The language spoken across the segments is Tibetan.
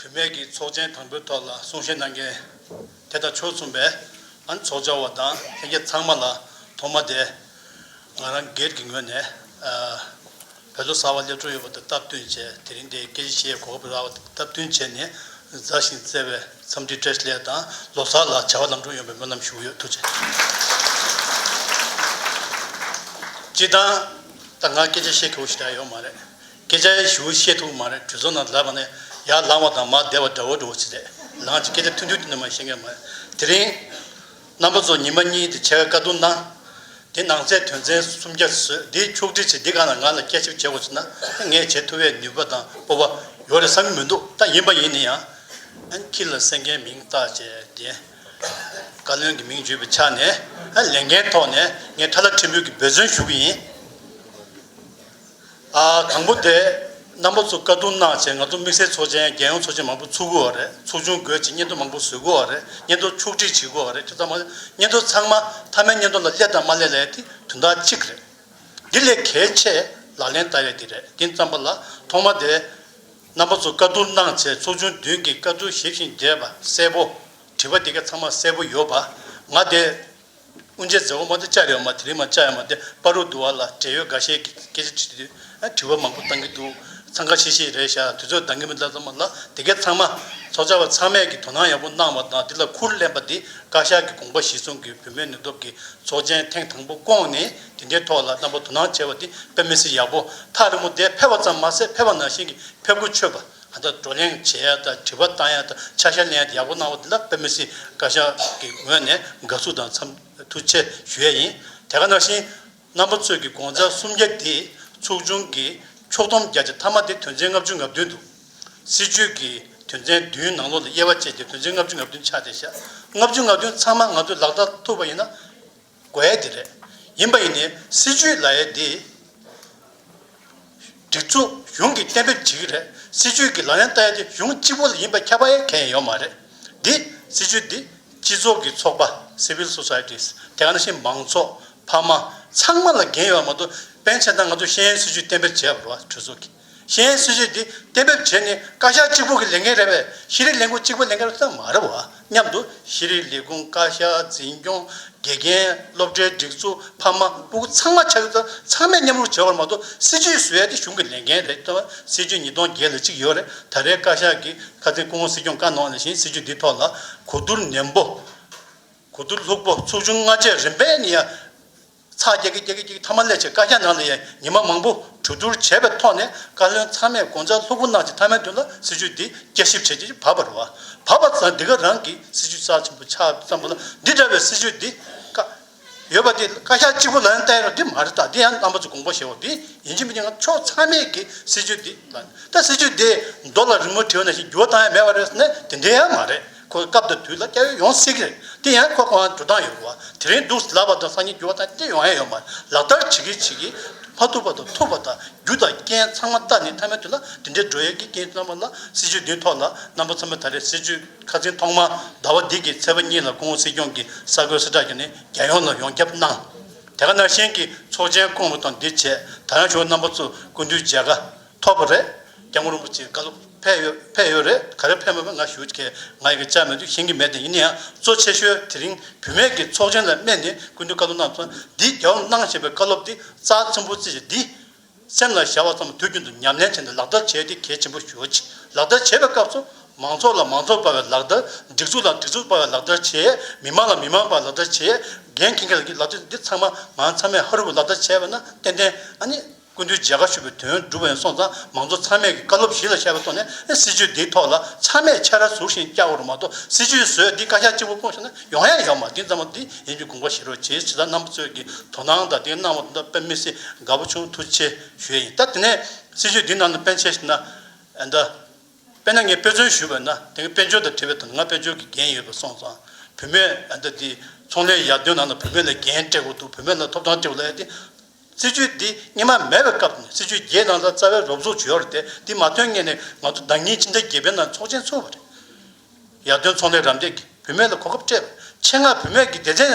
བུད་མེད་ཀྱི་ཚོགས་ཆེན་དང་པོའི་ཐོག་ལ་གསུང་བཤད་གནང་མཁན་དེ་དང་ཕྱོགས་མཚུངས་པའི་ཨན་ཚོགས་བཅར་བ་དང་ལྷན་རྒྱས་ཚང་མ་ལ་ཐོག་མ་དེ་ང་རང་སྒེར་གྱི་ངོས་ནས་བོད་ལོ་གསར་བ་སླེབས་འགྲོ་ཡོད་པ་དང་སྟབས་བསྟུན་བྱས་དེ་རིང་འདིའི་སྐད་ཆ་བཤད་ཡས་གོ་སྐབས་རག་པ་དང་སྟབས་བསྟུན་བྱས་ནས་མཛའ་ཞིང་བརྩེ་བའི་འཚམས་འདྲི་བཀྲེས་ལེགས་དང་ལོ་གསར་ལ་བྱ་བ་ལམ་འགྲོ་ཡོང་བའི་སྨོན་ལམ་ཞུ་གི་ཡོད་ཐུགས་རྗེ་ཆེ། སྤྱིར་བཏང་ད་ང་སྐད་ཆ་བཤད་མཁས་པོ་ཞིག་ད་ཡོད་མ་རེད་སྐད་ཆ་ཞུ་བཤད་ཐུབ་མ་རེད་གྲོས་ཚོགས་ནང་ལབ་པ་ནི་ཡར་ལངས་བ་དང་མར་བསྡད་པ་འདྲ་བོ་འགྲོ་བ་ཞིག་རེད་ལངས་ཀྱི་སྐད་ཆ་ཐུང་ཐུང་དེ་འདྲ་མ་བཤད་མཁན་མ་རེད་དེ་རིང། རྣམ་པ་ཚོ་ཉིན་མ་གཉིས་དེ་ཕྱེད་ཀ་བཀའ་བསྡུར་གནང། དེ་ནང་ཚད་དོན་ཚན་སུམ་བརྒྱ་བཟོས་དེ་ཕྱོགས་བསྒྲིགས་བྱས་དེ་ག་ལ་ང་ལ་སྐྱ་ཞིབ་བྱེད་དགོས་ཟེར་ན་ངས་བྱེད་ཐུབ་བའི་ནུས་པ་དང་སྤོབས་པ་ཡོད་རེད་བསམ་གྱི་མི་འདུག་ད་ཡིན་པ་ཡིན་ནི་ཡང། ཁྱི་ལ་སེར་སྐྱའི་མིང་བཏགས་བྱས་དེ། བཀའ་བློན་གྱི་མིང་བརྗོད་པའི་ཆ་ནས་ལས་འགན་ཐོག་ནས་ངས་ཁྲ་ལ་ཁྲི་འབུད་ཀྱི་འབད་བརྩོན་ཞུ་གི་ཡིན། དང་པོ་དེ། རྣམ་པ་ཚོ་དཀའ་སྡུག་གནང་བྱས་ང་ཚོ་དམིགས་བསལ་ཚོགས་ཆེན་རྒྱལ་ཡོངས་ཚོགས་ཆེན་མང་པོ་ཚུགས་དགོས་བ་རེད་ཚོགས་ཆུང་དགོས་ཆེད་སྙན་ཐོ་མང་པོ་བཟོས་དགོས་བ་རེད་སྙན་ཐོ་ཕྱོགས་བསྒྲིགས་བྱེད་དགོས་བ་རེད་ཁྱོད་ཚང་མ་སྙན་ཐོ་ཚང་མ་མཐའ་མའི་སྙན་ཐོ་ལ་སླེབས་དང་མ་སླེབས་ལས་དེ་དོན་དག་གཅིག་རེད། འདི་ལས་གལ་ཆེ་ལག་ལེན་བསྟར་ཡ་གི་རེད་འདི་བརྩམས་པ་ལ་ཐོག་མ་དེ། རྣམ་པ་ཚོ་དཀའ་སྡུག་གནང་བྱས་ཚོགས་ཆུང་བདུན་གྱི་དཀའ་སྡུག་ཞིབ་བཞིན་རྒྱས་པ་གསལ་པོ། བྲིས་པ་འདི་ག་ཚང་མ་གསལ་པོ་ཡོད་པ་ང་དེ། དབུ་འབྱེད་མཛད་སྒོ་མ་དེ་བཅར་ཡོད་མ་དེ་རིང་མ་བཅར་ཡོད་མ་དེ་སྤར་རོགས་འདུག་བ་ལ་བྲེལ་ཡོད་འགའ་ཤས་ཀྱིས་སྐད་ཆ་དྲི་དུས་དྲི་བ་མང་པོ་གཏང་གི་འདུག་འཚང་ཁ་ཤིག་ཤིག་རེད་བཞག་དུས་ཚོད་འདང་གི་མི་འདང་ཙམ་མ་ལ་དེ་གའི་ཚང་མ། ཚོགས་བཅར་བ་ཚང་མས་ཀྱིས་དོ་སྣང་ཡག་པོ་གནང་བ་དང་དེ་ལ་ཁུར་ལེན་པ་འདི་བཀའ་ཤག་གི་དགོངས་པ་གཞིར་བཟུང་གིས་བུད་མེད་ནུས་སྟོབས་ཀྱི་ཚོགས་ཆེན་ཐེངས་དང་པོ་བསྐོངས་ནས་དེ་འདྲའི་ཐོག་ལ་རྣམ་པ་དོ་སྣང་བྱས་པ་འདི་དཔེ་མི་སྲིད་ཡག་པོ་ཐག་རིང་པོ་འདས་ཕེབས་པ་ཙམ་མ་ཟད་ཕེབས་པ་ནང་བཞིན་གྱི་ཕེབས་སྒོ་ཆོད་པ། ད་ལྟ་བགྲོ་གླེང་བྱེད་ཡ་དང་དྲི་བ་བཏང་ཡ་དང་ཆ་ཤས་ལེན་ཡ་དེ་ཡག་པོ་གནང་བ་དེ་འདྲ་དཔེ་མི་སྲིད་བཀའ་ཤག་གི་ངོས་ནས་དགའ་བསུ་དང་འཚམ་ཐུགས་ཆེ་ཞུ་ཡ་ཡིན། དེ་ག་ནང་བཞིན་རྣམ་པ་ཚོས་ཀྱི་དགོངས་ཚ་སུམ་བརྒྱ་འདིས་ཚོགས་ཆུང་གི་ཕྱོགས་སྡོམ་བརྒྱ་ཆ་མཐའ་མ་དེ་དོན་ཚན་ལྔ་བཅུ་ང་བདུན་འདུག་སྲིད་བྱུས་ཀྱི་དོན་ཚན་བདུན་ནང་ལོགས་ལ་དབྱེ་བ་བཅས་ཀྱི་དོན་ཚན་ལྔ་བཅུ་ང་བདུན་ཆགས་ཏེ་ཞག་ལྔ་བཅུ་ང་བདུན་ཚང་མ་ང་ཚོས་ལག་བསྟར་ཐུབ་པ་ཡིན་ན། དགོས་ཡས་དེ་རེད། ཡིན་པ་ཡིན་ནའི་སྲིད་བྱུས་ལ་ཡས་དེ། སྒྲིག་འཛུགས་གཞུང་གིས་གཏན་འབེབས་བྱེད་ཀྱི་རེད། སྲིད་བྱུས་ཀྱི་ལག་ལེན་བསྟར་ཡས་དེ་གཞུང་གཅིག་པོ་ལ་ཡིན་པ་ཁྱབ་པ་ཡས་གལ་ཡོད་མ་རེད། འདི། སྲིད་བྱུས་འདི། སྤྱི་ཚོགས་ཀྱི་ཚོགས་པ། Civil Societies། དེ་ག་ནང་བཞིན་མང་ཚོགས། ཕ་མ། ཚང་མ་ལ་འགན་ཡོད་པ་མ་གཏོགས། པན་ཆེན་དང་ང་ཚོ་ཤེས་ཡོན་སྲིད་བྱུས་གཏན་འབེབས་བྱས་པ་རུ་བ་གྲོས་ཚོགས་ཀྱི། གཞན་ཡང་སྲིད་ཇུས་འདི་གཏན་འབེབས་བྱེད་ནི་བཀའ་ཤག་གཅིག་པུ་གི་ལས་འགན་རེད་པས་ཤེས་རིག་ལས་ཁུངས་གཅིག་པུའི་ལས་འགན་རེད་པ་ཙམ་མ་རེད་བ་སྙམ་འདུག་ཤེས་རིག་ལས་ཁུངས་བཀའ་ཤག་འཛིན་སྐྱོང་དགེ་རྒན་སློབ་གྲྭའི་སྒྲིག་འཛུགས་ཕ་མ་སྤུ་གུ་ཚང་མ་ཆ་ཤུགས་ཙམ་ཚང་མས་མཉམ་རུབ་བྱེད་པར་མ་གཏོགས་སྲིད་ཇུས་བཟོ་ཡ་དེ་གཞུང་གི་ལས་འགན་རེད་བསྟན་པ་སྲིད་ཇུས་ཉིས་སྟོང་བརྒྱད་ལ་གཅིག་ཡོད་རེད་ད་རེས་བཀའ་ཤག་གིས་ཁ་ཚིག་སྐུ་ངོ་སྲིད་སྐྱོང་བཀའ་གནང་བ་ནས་བཞིན་སྲིད་ཇུས་འདིའི་ཐོག་ལ་གོ་བསྡུར་ནན་པོ་གོ་བསྡུར་ལྷུག་པོ་ཚོགས་ཆུང་ལྔ་བཅས་རིམ་པས་ནི་ཡ། ཚ་རྒྱག་གི་རྒྱག་གི་རྒྱག་གི་ཐ་མ་ལས་བྱེད་བཀའ་རྒྱ་ནང་ལ་ཡང་ཉི་མ་མང་པོ་གྲོས་བསྡུར་བྱས་པའི་ཐོག་ནས་བཀའ་བློན་ཚང་མས་དགོངས་འཆར་ལྷུག་པོ་གནང་རྗེས་མཐའ་མའི་དོན་ལ་སྲིད་བྱུས་འདི་བསྐྱར་ཞིབ་བྱས་རྗེས་བབ་པར་བ་བབ་པ་ཙམ་འདི་ག་རང་གི་སྲིད་བྱུས་རྩ་ཆེན་པོ་ཆགས་ཙམ་པོ་ལ་འདི་འདྲ་བའི་སྲིད་བྱུས་འདི་བཀའ། ཡོད་པ་འདི་བཀའ་ཤག་གཅིག་པོ་ལ་ཡང་བལྟས་རོགས་འདི་མ་རེད་ད་འདི་ཡང་རྣམ་པ་ཚོས་དགོངས་པ་བཞེས་རོགས་འདི་ཡིན་གྱི་མིན་གྱི་ང་ཕྱོགས་ཚང་མས་ཀྱི་སྲིད་བྱུས་འདི་ལ་ད་སྲིད་བྱུས་འདི་མདོ་ལ་རིང་མོ་བྲིས་པ་ནང་བཞིན་འགྱུར་བ་བཏང་ཡ་མེད་པ་རེད་ཟེར་ན་དེ་འདྲ་ཡང་མ་རེད། ཁོའི་སྐབས་དེ་དུས་ལ་སྐྱ་ཡོལ་ཡོང་སྲིད་ཀྱི་རེད་དེ་ཡང་ཁོ་ཁོའང་འགྲོ་སྟངས་ཡོད་དགོས་པ་དེ་རིང་འདུག་ལབ་པ་དང་སང་ཉིན་རྒྱུ་བ་དང་ལྟས་ཡོང་ཡ་ཡོད་མ་རེད་ལག་བསྟར་བྱེད་ཀྱི་བྱེད་ཀྱི་མ་ཐུབ་པ་དང་ཐུབ་པ་དང་རྒྱུ་དང་རྐྱེན་ཚང་མ་བལྟ་ནས་མཐའ་མའི་དུས་ལ་དེ་འདྲའི་འགྲོ་ཡ་གི་རྐྱེན་ཚང་མ་ལ་སྲིད་ཇུས་འདིའི་ཐོག་ལ་རྣམ་པ་ཚང་མས་ད་རེས་སྲིད་ཇུས་ཁ་ཚིག་ཐོག་མ་ཟླ་བ་འདི་གི་ཚེས་པ་གཉིས་ལ་ཀོང་བོ་སྲིད་སྐྱོང་གི་ས་བགོས་གསལ་བསྒྲགས་བྱས་ནས་རྒྱལ་ཡོངས་ལ་ཡོངས་ཁྱབ་གནང། དེ་ག་ནང་བཞིན་གྱི་ཚོགས་ཆེན་ཀོང་བོ་དང་འདི་བྱས་ད་ཡང་ཞུ་བ་རྣམ་པ་ཚོས་ཀུན་བཏུས་མཇལ་ཁ། ཐོབ་པ་རེད། སྐྱབས་མགོན་རིན་པོ་ཆེའི་བཀའ་སློབ་ཕེབས་ཡོད་ཕེབས་ཡོད་རེད་ག་རེ་ཕེབས་མེད་པ་ང་ཞུ་གི་ང་ཡི་གི་ཅག་མེད་དུས་ཤེས་གི་མེད་དེ་ཡིན་ན་ཡང་གཙོ་ཆེ་ཤོས་དེ་རིང་བུད་མེད་ཀྱི་ཚོགས་ཆེན་ལ་སྨད་ནས་ཀུན་ཏུ་བཀའ་སློབ་གནང་སོང་འདི་རྒྱ་བོར་གནང་བཞིན་པའི་བཀའ་སློབ་འདི་རྩ་ཆེན་པོ་རྩིས་བཞིན་འདི་སེམས་ལ་ཞར་བ་ཙམ་དུས་རྒྱུན་དུ་ཉམས་ལེན་བྱས་ནས་ལག་བསྟར་བྱས་དེ་གལ་ཆེན་པོ་ཞུ་གི་ལག་བསྟར་བྱེད་པའི་སྐབས་སུ་མང་ཚོགས་ལ་མང་ཚོགས་པ་བའི་ལག་བསྟར་སྒྲིག་འཛུགས་ལ་སྒྲིག་འཛུགས་པ་བའི་ལག་བསྟར་བྱས་མི་དམངས་ལ་མི་དམངས་པ་བའི་ལག་བསྟར་བྱས་འགན་འཁྱེར་མཁན་ལ་འཁྱེར་ལག་བསྟར་འདི་ཚང་མ་ང་ཚང་མས་ཧ་རུ་པའི་ལག་བསྟར་བྱས་པ་ན་ཏན་ཏན་ཨ་ནི། སྐུ་མདུན་མཇལ་ཁ་ཞུ་བའི་དོན་བསྒྲུབ་པ་ཡིན་སོང་ཙང་མང་གཙོ་ཚང་མས་ཀྱི་བཀའ་སློབ་གཞི་ལ་ཤར་བའི་ཐོག་ནས་སྲིད་བྱུས་འདིའི་ཐོག་ལ་ཚང་མས་ཕྱག་ར་ཟུར་བཞིན་བཀྱག་བར་མ་གཏོགས་སྲིད་བྱུས་བཟོས་འདི་བཀའ་ཤག་གཅིག་པུ་སྤུངས་ཤོག་ན་ཡོང་ཡ་ཡོད་མ་དེ་ཙམ་མོ་དེ་ཡིན་རྒྱུ་དགོངས་པ་བཞེས་རོགས་བྱས་བྱས་ཙང་རྣམ་པ་ཚོས་ཀྱི་དོ་སྣང་དང་དེ་གནང་བ་དེ་དག་དཔེ་མི་སྲིད་དགའ་པོ་བྱུང་ཐུགས་ཆེ་ཞུ་ཡ་ཡིན་ད་དེ་ནས་སྲིད་བྱུས་འདི་ནང་དུ་དཔེ་འཆལ་ཞིག་ན་ཨེ་འདྲ། དཔེ་ན་ངས་དཔེ་མཚོན་ཞུས་པ་ཡིན་ན་དེ་གི་དཔེ་འཆོལ་དང་བྲལ་བའི་དོན་ང་དཔེ་འཆོལ་གྱི་འགན་ཡོད་པ་སོང་ཙང་བུད་མེད་ཨེ་འདྲ་དེ་ཚོང་ལས་ཡར་ཐོན་ནང་ན་བུད་མེད་ལ་འགན་སྤྲད་དགོས་འདུག་བུད་མེད་ལ་ཐོབ་ཐང་སྤྲད་དགོས་ལ་ཨེ་དེ། སྲིད་ཇུས་འདི་རྙིང་མ་མེད་པའི་སྐབས་ནས་སྲིད་ཇུས་བརྒྱད་ནང་ཚན་རྩ་བའི་རོབ་ཚུགས་བྱོས་རེད་དེ་འདི་མ་ཐོན་ངེས་ནས་ང་ཚོ་བདག་ཉིད་ཕྱི་ཟླ་བརྒྱད་པའི་ནང་ཚོགས་ཆེན་ཚུགས་པ་རེད། ཡར་ཐོན་ཚོང་ལས་རམ་འདེགས་ཀྱིས་བུད་མེད་ལ་གོ་སྐབས་སྤྲད་པ་ཆེད་མངགས་བུད་མེད་ཀྱི་སྡེ་ཚན་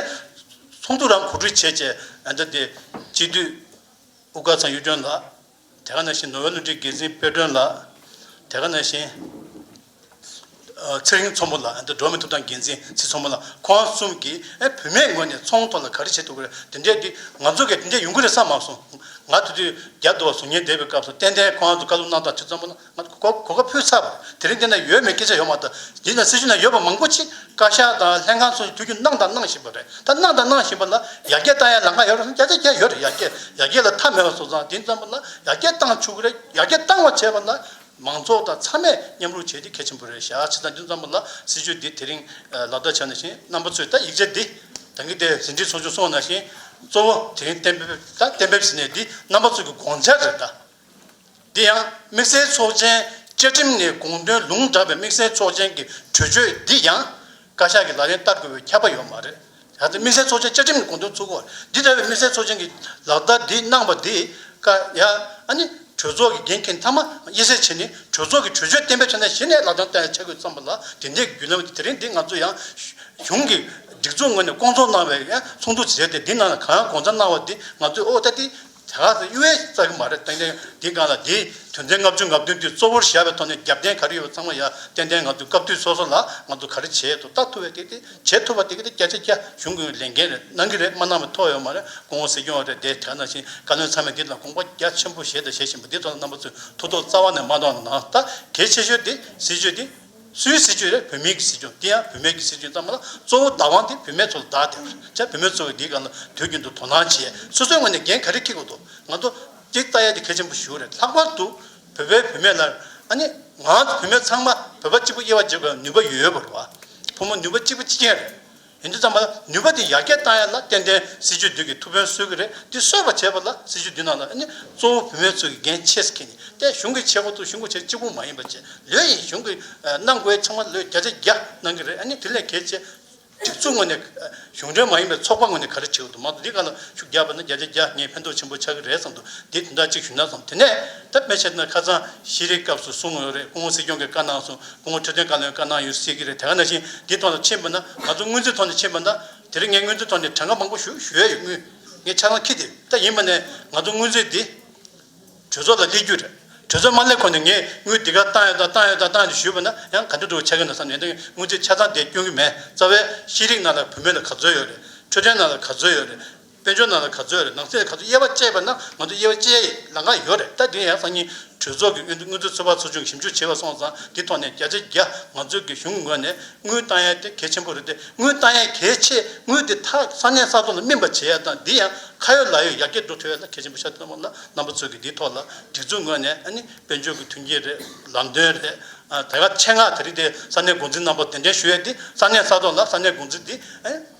ཚོགས་འདུ་རང་གོ་སྒྲིག་བྱེད་ཅེས་ཨ་མདོ་སྡེ་སྤྱི་འཐུས་དབུ་དཀར་ཚང་གཡུ་སྒྲོན་ལགས། དེ་ག་ནང་བཞིན་ནོ་བྷེལ་བསླུ་བྲིད་དགེ་འཛིན་དཔེ་སྒྲོན་ལགས། དེ་ག་ནང་བཞིན། ཚེ་རིང་ཚོམ་བུ་ལགས་འདི་འགྲོ་མི་ཐུབ་ཐང་འགན་འཛིན་ཚེ་ཚོམ་བུ་ལགས་ཁོང་གསུམ་གྱིས་བུད་མེད་ངོས་ནས་ཚོང་ཐོག་ལ་ག་རེ་བྱེད་ཐུབ་ཀི་རེད་དེ་འདྲས་འདི་ང་ཚོ་གས་དེ་འདྲས་ཡོང་གི་རེད་བསམ་མ་སོང། ང་དེ་དུས་རྒྱ་མདོ་བ་ཟུར་ཉན་བསྡད་པའི་སྐབས་སུ་ཏན་ཏན་ཁོང་ཚོ་བཀའ་སློབ་གནང་སྟངས་ཚེ་ཚོམ་བུ་ལགས། གོ་སྐབས་ཕུལ་ཚར་བ་དེ་རིང་འདི་ན་ཡོད་མེད་སྐད་ཆ་ཡོང་བ་དང་འདི་ན་སྲིད་གཞུང་ནང་ཡོད་པ་མང་པོ་ཆེ་བཀའ་ཤག་དང་ལྷན་ཁང་སོགས་སུ་ཐུག་རྒྱུ་གནང་དང་གནང་བཞིན་པ་རེད་ད་གནང་དང་གནང་བཞིན་པ་ལ་ཡར་རྒྱས་བཏང་ཡར་ལངས་ཡོད་རེད་བསམ་ཡར་རྒྱས་ཡོད་རེད་ཡར་རྒྱས་ཡར་རྒྱས་ལ་མཐའ་མེད་པ་སོང་ཙང་དེ་ཙམ་པོ་ལ་ཡར་རྒྱས་བཏང་ཆུག་གི་རེད་ཡར་རྒྱས་བཏང་བ་བྱས་པ་ལ་མང་ཚོགས་དང་ཚང་མས་མཉམ་རུག་བྱས་དེ་གལ་ཆེན་པོ་རེད་ཞག་ཕྱི་ཙང་དེ་ཙམ་པོ་ལ་སྲིད་ཇུས་འདི་དེ་རིང་ལག་བསྟར་བྱས་ན་བཞིན་རྣམ་པ་ཚོས་ད་ཡིག་ཆ་འདི་དང་གི་དེ་ཟིན་བྲིས་ཚོགས་ཆུང་སོང་ན་བཞིན་གཙོ་བོ་དེ་རིང་གཏན་འབེབས་ད་གཏན་འབེབས་ཟིན་ནས་འདི་རྣམ་པ་ཚོས་གི་དགོངས་འཆར་རེད་ད། དེ་ཡང་དམིགས་བསལ་ཚོགས་ཆེན་བཅའ་ཁྲིམས་ནས་དགོངས་དོན་ལུང་དྲངས་པའི་དམིགས་བསལ་ཚོགས་ཆེན་གྱི་གྲོས་ཆོད་འདི་ཡང་བཀའ་ཤག་གིས་ལག་ལེན་བསྟར་དགོས་པའི་ཁྱབ་པ་ཡོད་མ་རེད། ད་ལྟ་དམིགས་བསལ་ཚོགས་ཆེན་བཅའ་ཁྲིམས་ནས་དགོངས་དོན་ཚུགས་བར་འདི་ལྟ་བུའི་དམིགས་བསལ་ཚོགས་ཆེན་གྱི་ལག་བསྟར་འདི་གནང་བ་འདིས་བཀའ་ཡག་ཨ་ནི་གྲོས་ཚོགས་ཀྱི་འགན་འཁྱེར་མཐའ་མ་དབྱེ་གསལ་བྱས་ནས་གྲོས་ཚོགས་ཀྱི་གྲོས་ཆོད་གཏན་འབེབས་ཆ་ནས་གཞི་ནས་ལག་ལེན་བསྟར་ཆ་དགོས་བསམ་པ་ལ་དེ་འདྲའི་བརྒྱུད་ལམ་དེ་རིང་འདི་ང་ཚོ་ཡང་གཞུང་གི་སྒྲིག་འཛུགས་ངོས་ནས་སྐོང་ཚོགས་གནང་བའི་ཚོགས་འདུ་བྱས་ཏེ་འདི་ནང་ལ་གང་དགོངས་ཚ་གནང་བ་འདི་ང་ཚོས་ཨོ་ད་དེ་དེ་ག་ཚོད་གཡུ་བས་བཙལ་གི་མ་རེད་ཏན་ཏན་འདི་གང་ལ་འདིའི་དོན་ཚན་ལྔ་བཅུ་ལྔ་བདུན་དུས་གཙོ་བོར་བཞག་པའི་ཐོག་ནས་རྒྱབ་རྟེན་ག་རེ་ཡོད་པ་ཚང་མ་ཡག་ཏན་ཏན་ང་ཚོའི་སྐབས་དུས་སོ་སོ་ལ་ང་ཚོ་ག་རེ་བྱེད་དུ་ལྟ་ཐུབ་བས་དེ་དེ་བྱེད་ཐུབ་པ་དེ་ག་དེ་སྐྱ་ཆ་སྐྱ་གཞུང་གི་ལས་འགན་རེད་གནང་གི་རེད་མ་གནང་བའི་ཐོག་ཡོད་མ་རེད་དགོང་བོ་ཟིག་སྐྱོང་བ་རེད་དེ་དེ་ག་ནང་བཞིན་བཀའ་བློན་ཚང་མས་འདི་དང་དགོངས་པ་རྒྱ་ཆེན་པོ་བཞེས་དང་བཞེས་བཞིན་པ་འདི་ཚོ་ལ་རྣམ་པ་ཚོས་ཐུགས་དོགས་རྩ་བ་ནས་མ་གཏོང་ན་ད་གལ་ཆེ་ཤོས་དེ་སྲིད་ཇུས་འདི་སུའི་སྲིད་ཇུས་རེད་བུད་མེད་ཀྱི་སྲིད་ཇུས་དེ་ཡང་བུད་མེད་ཀྱི་སྲིད་ཇུས་ཙམ་མ་ལ་གཙོ་བོ་བདག་དབང་དེ་བུད་མེད་ཚོ་ལ་བདག་སྟེ་བར་ཆད་བུད་མེད་ཚོ་གི་འདིའི་སྐར་ལ་དུས་རྒྱུན་དུ་དོ་སྣང་བྱས་སོ་སོའི་ངོས་ནས་འགན་ག་རེ་འཁྲི་དགོས་འདུག་ང་ཚོ་གཅིག་བལྟ་ཡ་དེ་གལ་ཆེན་པོ་ཞིག་རེད་ལྷག་པར་དུ་བོད་པའི་བུད་མེད་ལ་ཨ་ནི་ང་བུད་མེད་ཚང་མ་བོད་པ་གཅིག་པུ་དབྱེ་བ་འབྱེད་དགོས་ན་ནུས་པ་ཡོད་པ་རེད་བ་ཕོ་མོ་ནུས་པ་གཅིག་པུ་གཅིག་མཁྱེན་རེད། ཡིན་དུ་བརྩམས་པ་ལ་ནུས་པ་དེ་ཡར་རྒྱས་བཏང་ཡ་ལ་བརྟེན་དེ་སྲིད་ཇུས་འདུས་ཀྱི་ཐུགས་ཕན་གསོས་ཀྱི་རེད་དེ་གསོས་པ་བྱས་པ་ལ་སྲིད་ཇུས་འདུས་ནང་ལ་ནི་གཙོ་བོ་བུད་མེད་ཚོ་ཀྱི་འགན་ཆེས་ཀྱི་ནི་ཏེ་གཞུང་གི་བྱེད་སྒོ་དུ་གཞུང་གི་བྱེད་གཅིག་པུ་མ་ཡིན་པ་བྱེད་ལོས་ཡིན་གཞུང་གི་གནང་སྒོའི་ཚང་མ་ལོས་བརྒྱ་ཆ་བརྒྱ་གནང་གི་རེད་ནི་དེ་ལས་གལ་ཆེ་སྒྲིག་འཛུགས་ངོས་ནས་གཞུང་འབྲེལ་མ་ཡིན་པའི་ཚོགས་པ་ངོས་ནས་ག་རེ་བྱེད་དགོས་དུ་མ་དུ་འདི་ག་ལ་ཤུགས་རྒྱག་པ་ནི་བརྒྱ་ཆ་བརྒྱ་ངས་ཕན་ཐོགས་ཆེན་པོ་ཆགས་ཀྱི་རེད་བསམ་དུ་དེ་དེ་འདྲ་གཅིག་ཞུས་ན་བསམ་དེ་ནས་ད་སྤེལ་བྱས་དེ་ནི་ཁ་ཚང་ཤི་རིའི་སྐབས་སུ་གསུངས་ཡོད་རེད་སྐུ་ངོ་སྲིད་སྐྱོང་གི་བཀའ་གནང་སོང། སྐུ་ངོ་འཕྲོད་བསྟེན་བཀའ་བློན་བཀའ་གནང་ཡོད་སྲིད་ཀྱི་རེད་དེ་ག་ནང་བཞིན་དེའི་ཐོག་ལ་མཆན་འབུལ་ན་ང་ཚོ་དངོས་ཚིག་ཐོག་ནས་མཆན་འབུལ་ན་དེ་རིང་ངས་དངོས་ཚིག་ཐོག་ནས་དྲང་བཀའ་མང་པོ་ཞུ་ཞུ་ཡ་ཡོད་དངུལ་ངས་ཆ་ལང་ཁྱི་དེ་ལྟ་ཡིན་པ་ནས་ང་ཚོ་དངོས་ཚིག་འདི་གྲོས་ཚོགས་ལ་སླེབས་རྒྱུ་རེད་གྲོས་ཚོགས་མ་སླེབས་གོང་ནས་ངས་དངུལ་འདི་ག་བཏང་ཡོད་ད་བཏང་ཡོད་ད་བཏང་ཡོད་ཞུས་པ་ན་ཡང་ག་འདྲ་འགྲོ་གི་ཆགས་ཀྱི་འདུག་བསམ་ནས་དངུལ་ཚིག་ཆ་ཚང་དེ་སྐྱོན་གྱི་མེད་རྩ་བའི་ཤེས་རིག་ནང་ལ་བུད་མེད་ལ་ག་ཚོད་ཡོད་རེད་འཕྲོད་བསྟེན་ནང་ལ་ག་ཚོད་ཡོད་རེད། དཔལ་འབྱོར་ནང་ལ་ག་ཚོད་རེད་ནང་ཚེ་ག་ཚོད་དབྱེ་བ་དཔྱད་པ་ན་ང་ཚོ་དབྱེ་བ་དཔྱད་ཡས་ལང་ཁ་ཡོད་རེད་ད་དེ་ཡང་སང་ཉིན་གྲོས་ཚོགས་ཀྱི་དངུལ་རྩ་ཚོད་དཔག་ཚོགས་ཆུང་གི་ཞིབ་འཇུག་བྱེད་པ་སོང་ཙང་དེ་ཐོག་ནས་བརྒྱ་ཆ་བརྒྱ་ང་ཚོའི་གི་གཞུང་ངོས་ནས་དངུལ་བཏང་ཡས་དེ་གལ་ཆེན་པོ་རེད་དེ་དངུལ་བཏང་ཡས་གལ་ཆེ་དངུལ་དེ་ཐག་ས་གནས་ས་ཐོག་ལ་སྨིན་པ་བྱེད་ཡས་དང་དེ་ཡང་ཁ་ཡོད་ལག་ཡོད་ཡར་རྒྱས་འགྲོ་ཐུབ་ཡས་ལ་གལ་ཆེན་པོ་ཤ་སྟོན་པ་ལ་རྣམ་པ་ཚོས་གི་དེ་ཐོག་ལ་སྒྲིག་འཛུགས་ངོས་ནས་ཨ་ནི་དཔལ་འབྱོར་གི་མཐུན་རྐྱེན་རེད་ལམ་སྟོན་རེད་ད་ག་ཆེད་མངགས་དེ་རིགས་དེ་ས་གནས་འགོ་འཛིན་རྣམ་པ་གདན་འདྲེན་ཞུ་ཡས་དེ་ས་གནས་ས་ཐོག་ལ་ས་གནས་འགོ་འཛིན་དེ་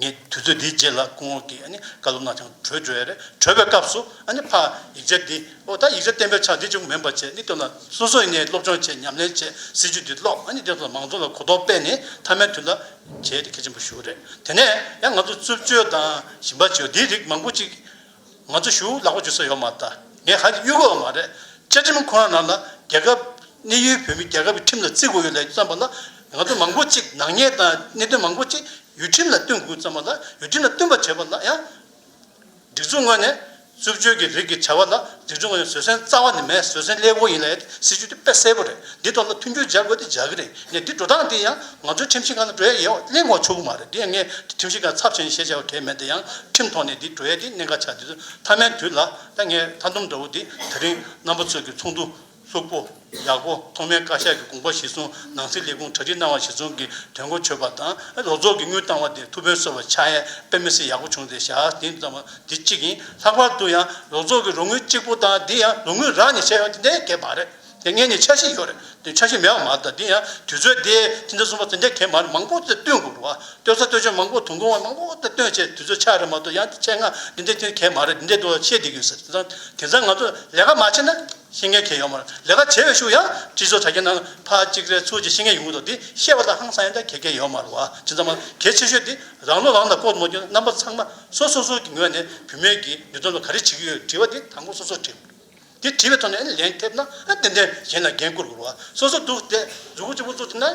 ངས་དུས་ཚོད་འདིའི་རྗེས་ལ་སྐུ་ངོ་གིས་བཀའ་སློབ་གནང་ཀྱང་གྲོལ་འགྲོ་ཡ་རེད་གྲོལ་བའི་སྐབས་སུ་ཕ་ཡིག་ཆ་འདི་ཨོ་ད་ཡིག་ཆ་བསྟན་པའི་ཆ་འདི་ཅུང་མིན་པ་བྱས་ནས་བཏོན་ལ་སོ་སོས་ངས་སློབ་སྦྱོང་བྱས་ཉམས་ལེན་བྱས་སྲིད་ཇུས་འདི་ཀློག་ཨ་ནི་དེ་ཚོ་མང་ཚོགས་ལ་གོ་རྟོགས་སྤེལ་ནས་མཐའ་མའི་དུས་ལ་བྱས་ཏེ་གལ་ཆེན་པོ་ཞུ་རེད་དེ་ནས་ཡང་ང་ཚོ་རྩུབ་སྤྱོད་དང་ཞིམ་པ་སྤྱོད་འདིའི་རིགས་མང་པོ་ཅིག་ང་ཚོ་ཞུགས་ལག་པ་འཇུ་ས་ཡོད་མ་ད་ངས་ཧ་གི་གཡུག་དགོས་བ་མ་རེད་བཅའ་ཁྲིམས་ཁོ་རང་ནང་ལ་རྒྱལ་ཁབ་གནས་ཡུལ་བོད་མི་རྒྱལ་ཁབ་ཀྱི་ཁྲིམས་ལ་བརྩི་དགོས་ཡོད་ལས་བརྩམས་པ་ལ་ང་ཚོ་མང་པོ་ཅིག་ནག་ཉེས་དང་གནད་དོན་མང་པོ་ཅིག་ཡུལ་ཁྲིམས་ལ་བསྟུན་དགོས་བརྩམས་པ་ལ་ཡུལ་ཁྲིམས་ལ་བསྟུན་པ་བྱས་པ་ལ་ཡང། སྒྲིག་འཛུགས་ངོས་ནས་རྩུབ་སྤྱོད་ཀྱི་རིགས་ཀྱི་བྱ་བ་ལ་སྒྲིག་འཛུགས་ངོས་ནས་བཟོད་བསྲན་རྩ་བ་ནས་མེད་བཟོད་བསྲན་སླེ་བོ་ཡིན་ལ་ཡ་དེ་སྲིད་ཇུས་དེ་དཔེ་གསལ་པོ་རེད་འདི་ཐོག་ལ་མཐུན་འགྱུར་སྦྱར་དགོས་དེ་སྦྱར་གི་རེད། ནས་འདི་འགྲོ་སྟངས་འདི་ཡང་ང་ཚོའི་ཁྲིམས་ཞིབ་ཁང་དང་འགྲོ་ཡ་ཡས་གླེང་བར་ཆོག་གི་མ་རེད་འདི་ཡང་ངས་ཁྲིམས་ཞིབ་ཁང་ཚབ་བྱས་ནས་ཞེས་བྱ་བ་གལ་མེད་འདི་ཡང་ཁྲིམས་ཐོག་ནས་འདི་འགྲོ་ཡ་ཀྱི་གནད་འགག་ཆགས་འདི་ཚོ་མཐའ་མའི་དུས་ལ་ད་ངས་མཐའ་འདོམས་འདྲ་བོ་འདི་ད་རིང་རྣམ་པ་ཚོས་ཀྱི་ཚོགས་འདུ་ལྷུག་པོ་ཡག་པོ་ཐོག་མའི་བཀའ་ཤག་གི་དགོངས་པ་གཞི་བཟུང་ནང་སྲིད་ལས་ཁུངས་གྲ་སྒྲིག་གནང་བ་གཞི་བཟུང་གི་དོན་གོ་ཆོད་པ་དང་ལོ་ཚོགས་ཀྱི་དངུལ་བཏང་བ་དེ་ཐུགས་ཕན་གསོ་བ་ཆགས་ཡས་དཔེ་མི་སྲིད་ཡག་པོ་བྱུང་ཚེ་ཞག་བདུན་ཙམ་བ་འདི་གཅིག་ཡིན་ལྷག་པར་དུ་ཡང་ལོ་ཚོགས་ཀྱི་རོགས་དངུལ་གཅིག་པོ་དང་འདི་ཡང་ལོ་དངུལ་རག་ནས་བྱས་ཡོད་འདི་འདྲའི་གལ་མ་རེད། དེ་ངས་ནི་ཆ་ཤས་ཡོད་རེད་འདོད་ཆ་ཤས་མེད་པ་མ་རེད་ད་འདི་ཡང་དུས་ཚོད་དེ་ཕྱི་ཟླ་གསུམ་པ་ཚེ་འདས་གེ་མར་མང་པོ་བསྟོད་དགོས་རེད་བ་བསྟོད་ས་བསྟོད་ཆོས་མང་པོ་དུང་དགོང་བ་མང་པོ་བསྟོད་བསྟོད་བྱས་དུས་ཚོད་ཆག་རེད་མ་གཏོགས་ཡང་འདི་ཆེད་མངགས་འདི་འདི་བསྟོད་གེ་མ་རེད་འདི་འདི་བསྟོད་ཤེས་བསྡད་ཡོད་ཟེར་དེ་སང་དེང་སང་ང་ཚོ་ལས་ཀ་མ་བྱས་ན་ཤེས་མཁན་གེ་ཡོད་མ་རེད་ལས་ཀ་བྱས་བའི་ཤུགས་ཡང་སྤྱི་ཚོགས་དྲ་རྒྱའི་ནང་ཕ་གཅིག་རེད་ཚུལ་གྱི་ཤེས་མཁན་ཡོང་གི་འདུག་འདི་བཤད་པ་ལ་ཧང་སང་ཡང་འདྲ་གེ་གེ་ཡོད་མ་རེད་བ་ཇི་ཙམ་མང་གེ་ཆེ་ཤོས་འདི་རང་བློ་རང་ལ་ལྐོག་ཏུ་མ་གྱོན་ན་རྣམ་པ་ཚང་མ་སོ་སོ་སོ་སོ་གྱི་ངོས་ནས་བུད་མེད་ཀྱི་ནུས་སྟོབས་ལ་ག་རེ་བྱེད་ཀྱི་ཡོད་དྲི་བ་འདི་དང་པོ་སོ་སོར་དྲིས་དེ་བྲིས་པའི་ཐོག་ནས་ལན་ཐེབས་ན་ཏན་ཏན་གཞན་ལ་འགན་བསྐུར་དགོས་པ་སོ་སོ་འདུག་དེ་འཛུགས་སྐུ་ཆེན་པོ་བཙུགས་ཐུབ་ན་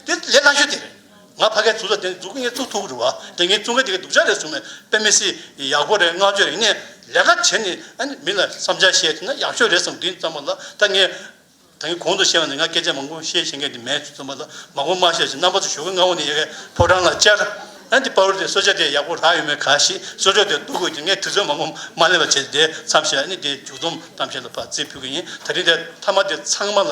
དེ་ལས་སླ་ཤོས་དེ་རེད། ང་ཕ་གའི་ཟུར་ལ་དེ་འཛུགས་སྐུ་ངས་བཙུགས་ཐུབ་རུང་བ་དེ་ངས་བཙུགས་མཁན་དེ་གའི་སྡུག་ཅག་རེད་གསུངས་ནས་དཔེ་མི་སྲིད་ཡག་པོ་རེད་བསྔགས་བརྗོད་རིག་གནས་ལས་ཀ་བྱེད་ནས་མི་ལ་བསམ་འཆར་བཤད་ཐུབ་ན་ཡག་ཤོས་རེད་བསམ་དུས་མཚམས་པ་ལ་ད་ངས་ད་ཡིན་གོང་དུ་བཤད་པ་ནི་ང་སྐད་ཆ་མང་པོ་བཤད་བཞིན་མཁན་དེ་མེད་ཅེས་རྩོམ་པ་ལ་མང་པོ་སྨྲ་བཤད་བྱས་རྣམ་པ་ཚོ་ཞོགས་ཀྱི་མངའ་འོག་ནས་ཡལ་གའི་ཕོ་བྲང་ལ་བཅར། ཨ་འདི་དཔའ་བོ་དེས་གསོལ་ཇ་དེ་ཡག་པོ་ལྷག་ཡོད་མེད་ག་ཞེས་གསོལ་ཇོག་དེར་ལྟོ་གོས་ཀྱིས་ངས་དུས་ཚོད་མང་པོ་མ་ལེན་པར་བྱས་ཏེ་མཚམས་བཞག་ཨ་ནི་དེའི་མཇུག་རྩོམ་གཏམ་བཤད་ལ་བར་རྩིས་ཕུལ་གྱི་ཡིན་ད་རིང་དེ་མཐའ་མ་དེ་ཚང་མ་ལ་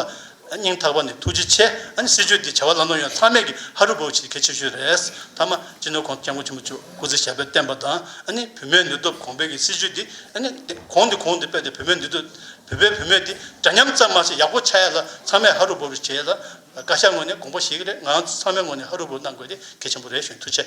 སྙིང་ཐག་པ་ནས་ཐུགས་རྗེ་ཆེ་ཨ་ནི་སྲིད་ཇུས་འདི་བྱ་བ་ལམ་ལྷོང་ཡོང་ན་ཚང་མས་ཀྱི་ཧ་རུ་བོའུ་བྱེད་གལ་ཆེ་ཤོས་རེད་མཐའ་མ་སྤྱི་ནོར་ཁང་དུ་སྐྱབས་མགོན་ཆེན་པོ་མཆོག་སྐུ་ཚེ་ཞབས་པད་བརྟན་པ་དང་ཨ་ནི་བུད་མེད་ནུས་སྟོབས་གོང་འཕེལ་གྱི་སྲིད་ཇུས་འདི་ཨ་ནི་གོང་འདི་གོང་དུ་སྤེལ་ཏེ་བུད་མེད་ནུས་སྟོབས་བོད་པའི་བུད་མེད་དེ་འདྲ་མཉམ་ཙམ་མ་ཟད་ཡག་པོ་ཆགས་ཡ་ལ་ཚང་མས་ཧ་རུ་བོ་རུ་བྱས་ལ། བཀའ་ཤག་ངོས་ནས་དགོངས་པ་ཞིག་གི་རེད་ང་རང་ཚོ་ཚང་མའི་ངོས་ནས་ཧ་རུ་བོ་གནང་དགོས་དེ་གལ་ཆེན་པོ་རེད་གཞོན་ཐུ་ཆེ།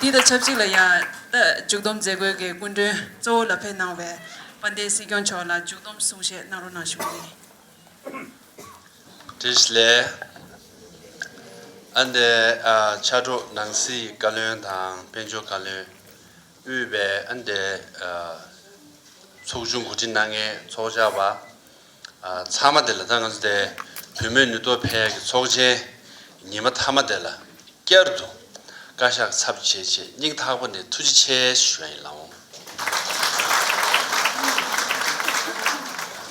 འདི་དང་ཆབས་ཅིག་ལ་ཡང་རྟ་མཇུག་སྡོམ་མཛད་སྒོའི་སྐུ་མགྲོན་གཙོ་བོ་ལ་ཕེབས་གནང་བའི་དཔལ་ལྡན་སྲིད་སྐྱོང་མཆོག་ལ་མཇུག་སྡོམ་གསུང་བཤད་གནང་རོགས་གནང་ཞུ་རྒྱུ་ཡིན། ཏིས་ལེ། ཨ་འདའི་ཕྱག་གྲོགས་ནང་སྲིད་བཀའ་བློན་དང་དཔལ་འབྱོར་བཀའ་བློན་དབུས་པའི་ཨ་འདའི་ཚོགས་ཆུང་གོ་སྒྲིག་གནང་མཁན་ཚོགས་བཅར་བ། ཚང་མ་དེ་ལ་ད་ང་ཚོ་དེ་བུད་མེད་ནུས་སྟོབས་ཕལ་གྱི་ཚོགས་ཆེན་ཉི་མ་མཐའ་མ་དེ་ལ་བསྐྱར་དུ་བཀའ་ཤག་ཚབ་བྱེད་ཆེད་སྙིང་ཐག་པ་ནས་ཐུགས་རྗེ་ཆེ་ཞུ་བ་ཡིན་ལགས་འོང།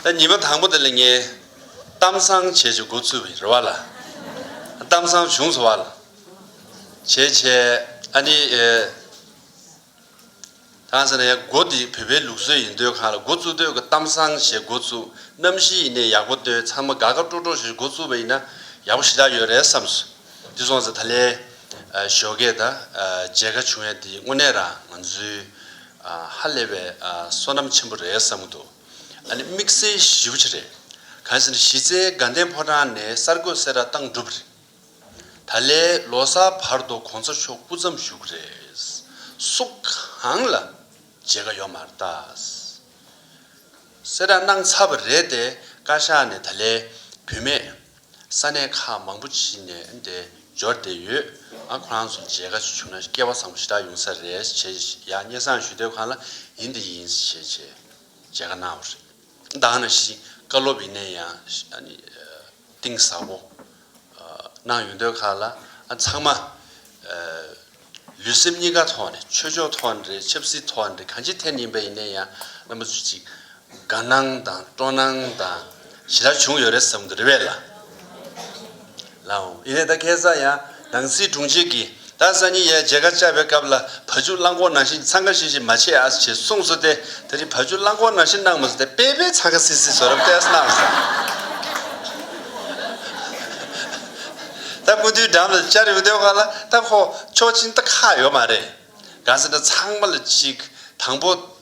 ད་ཉི་མ་དང་པོ་དེ་ལ་ངས་གཏམ་བཟང་བྱེད་ཆེད་འགོ་ཚུགས་པ་ཡིན་རེད་བ་ལ་གཏམ་བཟང་བྱུང་སོང་བ་ལ་བྱེད་ཆེད་ཨ་ནི། གང་ཟེར་ན་ཡང་སྒོ་འདི་བོད་པའི་ལུགས་སྲོལ་ཡིན་སྡོད་ཁང་ལ་སྒོ་བཙུགས་སྡོད་ཀྱི་གཏམ་བཟང་ཞེས་སྒོ་བཙུགས་གནམ་གཤིས་ཡིན་ནའི་ཡག་པོ་སྟོན་ཚང་མ་དགའ་དགའ་སྤྲོ་སྤྲོ་ཞེས་སྒོ་བཙུགས་པ་ཡིན་ན་ཡག་པོ་ཞེ་དྲག་ཡོད་རེད་བསམས་སོ། འདི་སོང་ཚེ་ད་ལས་ཞོ་སྐད་དང་མཇལ་ཁ་བྱུང་ཡང་འདི་དངོས་གནས་རང་ང་ཚོའི་ཧ་ལས་པའི་བསོད་ནམས་ཆེན་པོ་རེད་བསམ་གྱི་འདུག་ཨ་ནི་དམིགས་བསལ་ཞིབ་ཆ་རེད། གང་ཟེར་ན་གཞི་རྩའི་དགའ་ལྡན་ཕོ་བྲང་ནས་གསར་འགོད་སེ་ར་བཏང་གྲུབ་རེད། ད་ལས་ལོ་སར་བར་དུ་གོང་ས་མཆོག་སྐུ་མཚམས་བཞུགས་རེས་སུག་གང་ལ་མཇལ་ཁ་ཡོང་མ་རྟ། སེ་ར་གནང་ཚར་བ་རེད་དེ་བཀའ་ཤག་ནས་ད་ལས་བུད་མེད་ས་གནས་ཁག་མང་པོ་ཕྱིན་ནས་དེ་འབྱོར་བསྡད་ཡོད་ཁོ་རང་ཚོ་མཇལ་ཁ་བྱུང་ན་སྐལ་བ་བཟང་པོ་ཞེ་དྲག་ཡོང་ས་རེད་བྱས་ཡ་སྙེ་བཟང་ཞུ་དེབ་ཁང་ལ་ཡིན་དེ་ཡིན་བྱས་བྱས་མཇལ་ཁ་གནང་བ་རེད་གདང་ན་ཤིང་བཀའ་སློབ་ཡིན་ནས་ཡང། གཏིང་ཟབ་པོ་གནང་ཡོད་འདོད་ཁག་ལ་ཚང་མ་ལུས་སེམས་གཉིས་ཀ་ཐོག་ནས་ཆོས་ཕྱོགས་ཐོག་ནས་རེད་ཆབ་སྲིད་ཐོག་ནས་རེད་གང་ཅི་ཐད་ནས་ཡིན་པ་ཡིན་ནའི་ཡང་བླ་མ་ཚུལ་གཅིག་དགའ་སྣང་དང་སྤྲོ་སྣང་དང་ཞི་དར་བྱུང་ཡོད་རེད་བསམ་དུ་རེད་བས་ལ། ཡིན་ནའི་ད་ཁེ་བཟའ་ཡང། ནང་སྲིད་དྲུང་ཆེ་གིས་ད་གཟའ་ཉི་ཡའི་མཇལ་ཁ་བཅར་བའི་སྐབས་ལ་བ་ཕྱུགས་རླངས་འཁོར་ནང་བཞིན་འཚང་ཁ་ཤིག་ཤིག་མ་བྱེད་ཨ་ཞེས་གསུངས་སོ་སྟེ་ད་རིང་བ་ཕྱུགས་རླངས་འཁོར་ནང་བཞིན་གནང་མ་སོང་སྟེ་དཔེ་དཔེ་འཚང་ཁ་སིག་སིག་བཟོ་རབས་ལྟས་སུ་གནང་སོང། ད་སྐུ་མདུན་འགྲམ་ལ་བཅར་ཡོང་དོན་ག་ལ་ད་ཁོ་ཕྱོགས་ཕྱིན་ད་ཁག་ཡོད་མ་རེད། གང་ཟེར་ན་ཚང་མ་ལ་གཅིག་དང་པོ།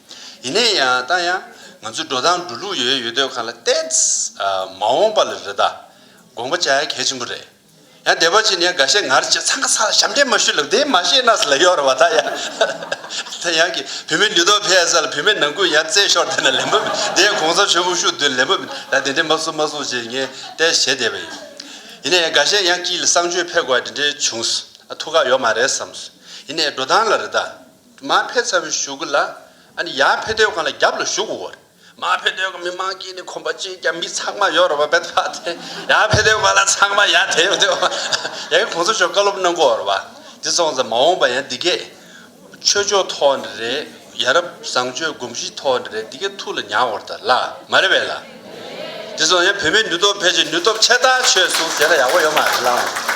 ཡིན་ནའི་ཡང་ད་ཡང་ང་ཚོའི་འགྲོ་སྟངས་འགྲོ་ལུགས་ཡོད་ཡོད་དོད་ཁ་ལ་གཏད། མ་འོངས་པ་ལ་རེ་ད་དགོངས་པ་བྱ་ཡ་གལ་ཆེན་པོ་རེད། ཡང་བདེ་བ་ཅན་ཡང་འགའ་ཤས་ངར་ཅིག་ཚང་ག་ཚང་ལ་ཞབས་འདྲེན་མ་ཞུས་ལབ་དེ་མ་ཤེས་ནགས་ལ་གཡོག་ར་བ་ད་ཡང། ད་ཡང་གི་བུད་མེད་ལུས་སྟོབས་འཕེལ་ཡ་ས་ལ་བུད་མེད་ནང་ཁུལ་ཡང་རྩེད་ཤོར་དེ་ན་ལེན་པ་མེད་དེ་ཡང་གོང་ས་མཆོད་བུ་ཤུག་དོད་ལེན་པ་མེད་ད་དེ་འདྲས་མ་བཟོ་མ་བཟོ་ཅེས་ངས་གཏད་བྱས་བསྡད་པ་ཡིན། ཡིན་ནའི་ཡང་འགའ་ཤས་ཡང་སྐྱིད་ལ་བསང་མཆོད་ཕེབས་དགོས་བ་དེ་འདྲས་བྱུང། ཐུགས་ཁག་ཡོག་མ་རེད་བསམས། ཡིན་ནའི་འགྲོ་སྟངས་ལ་རེ་ད། མ་ཕེ་ཚ་བའི་བཞུགས་གུ་ལ་ཨ་ཡ་ཕེ་སྡོད་ཁང་ལ་རྒྱབ་ལ་བཞུགས་གུ་བར་མ་ཕེ་སྡོད་ཁང་མི་མང་གིས་ནི་ཁོམ་པ་ཅིག་ཀྱང་མི་ཚང་མ་ཡོད་རོ་བ་བེ་ཐ་དེ་ཡ་ཕེ་སྡོད་ཁང་ལ་ཚང་མ་ཡ་དེ་བེ་དོ་ཡ་གི་གོང་ས་མཆོག་བཀའ་སློབ་གནང་གུ་བར་བ་དེ་སོང་ཙང་མ་འོང་པ་ཡ་འདི་གས་ཆོས་ཕྱོགས་ཐོག་ནས་རེད་ཡ་རབ་བཟང་ཆོས་སྒོམ་གཞི་ཐོག་ནས་རེད་འདི་གས་ཐུགས་ལ་མྱང་བར་ད་ལ་མ་རེད་བེ་ལ་དེ་སོང་ཡ་བོད་མི་ནུས་སྟོབས་ཕལ་ཆེར་ནུས་སྟོབས་ཆེ་ལྟ་ཆོས་གསུང་ཟེར་ན་ཡག་པོ་ཡོད་མ་རེད་ལ།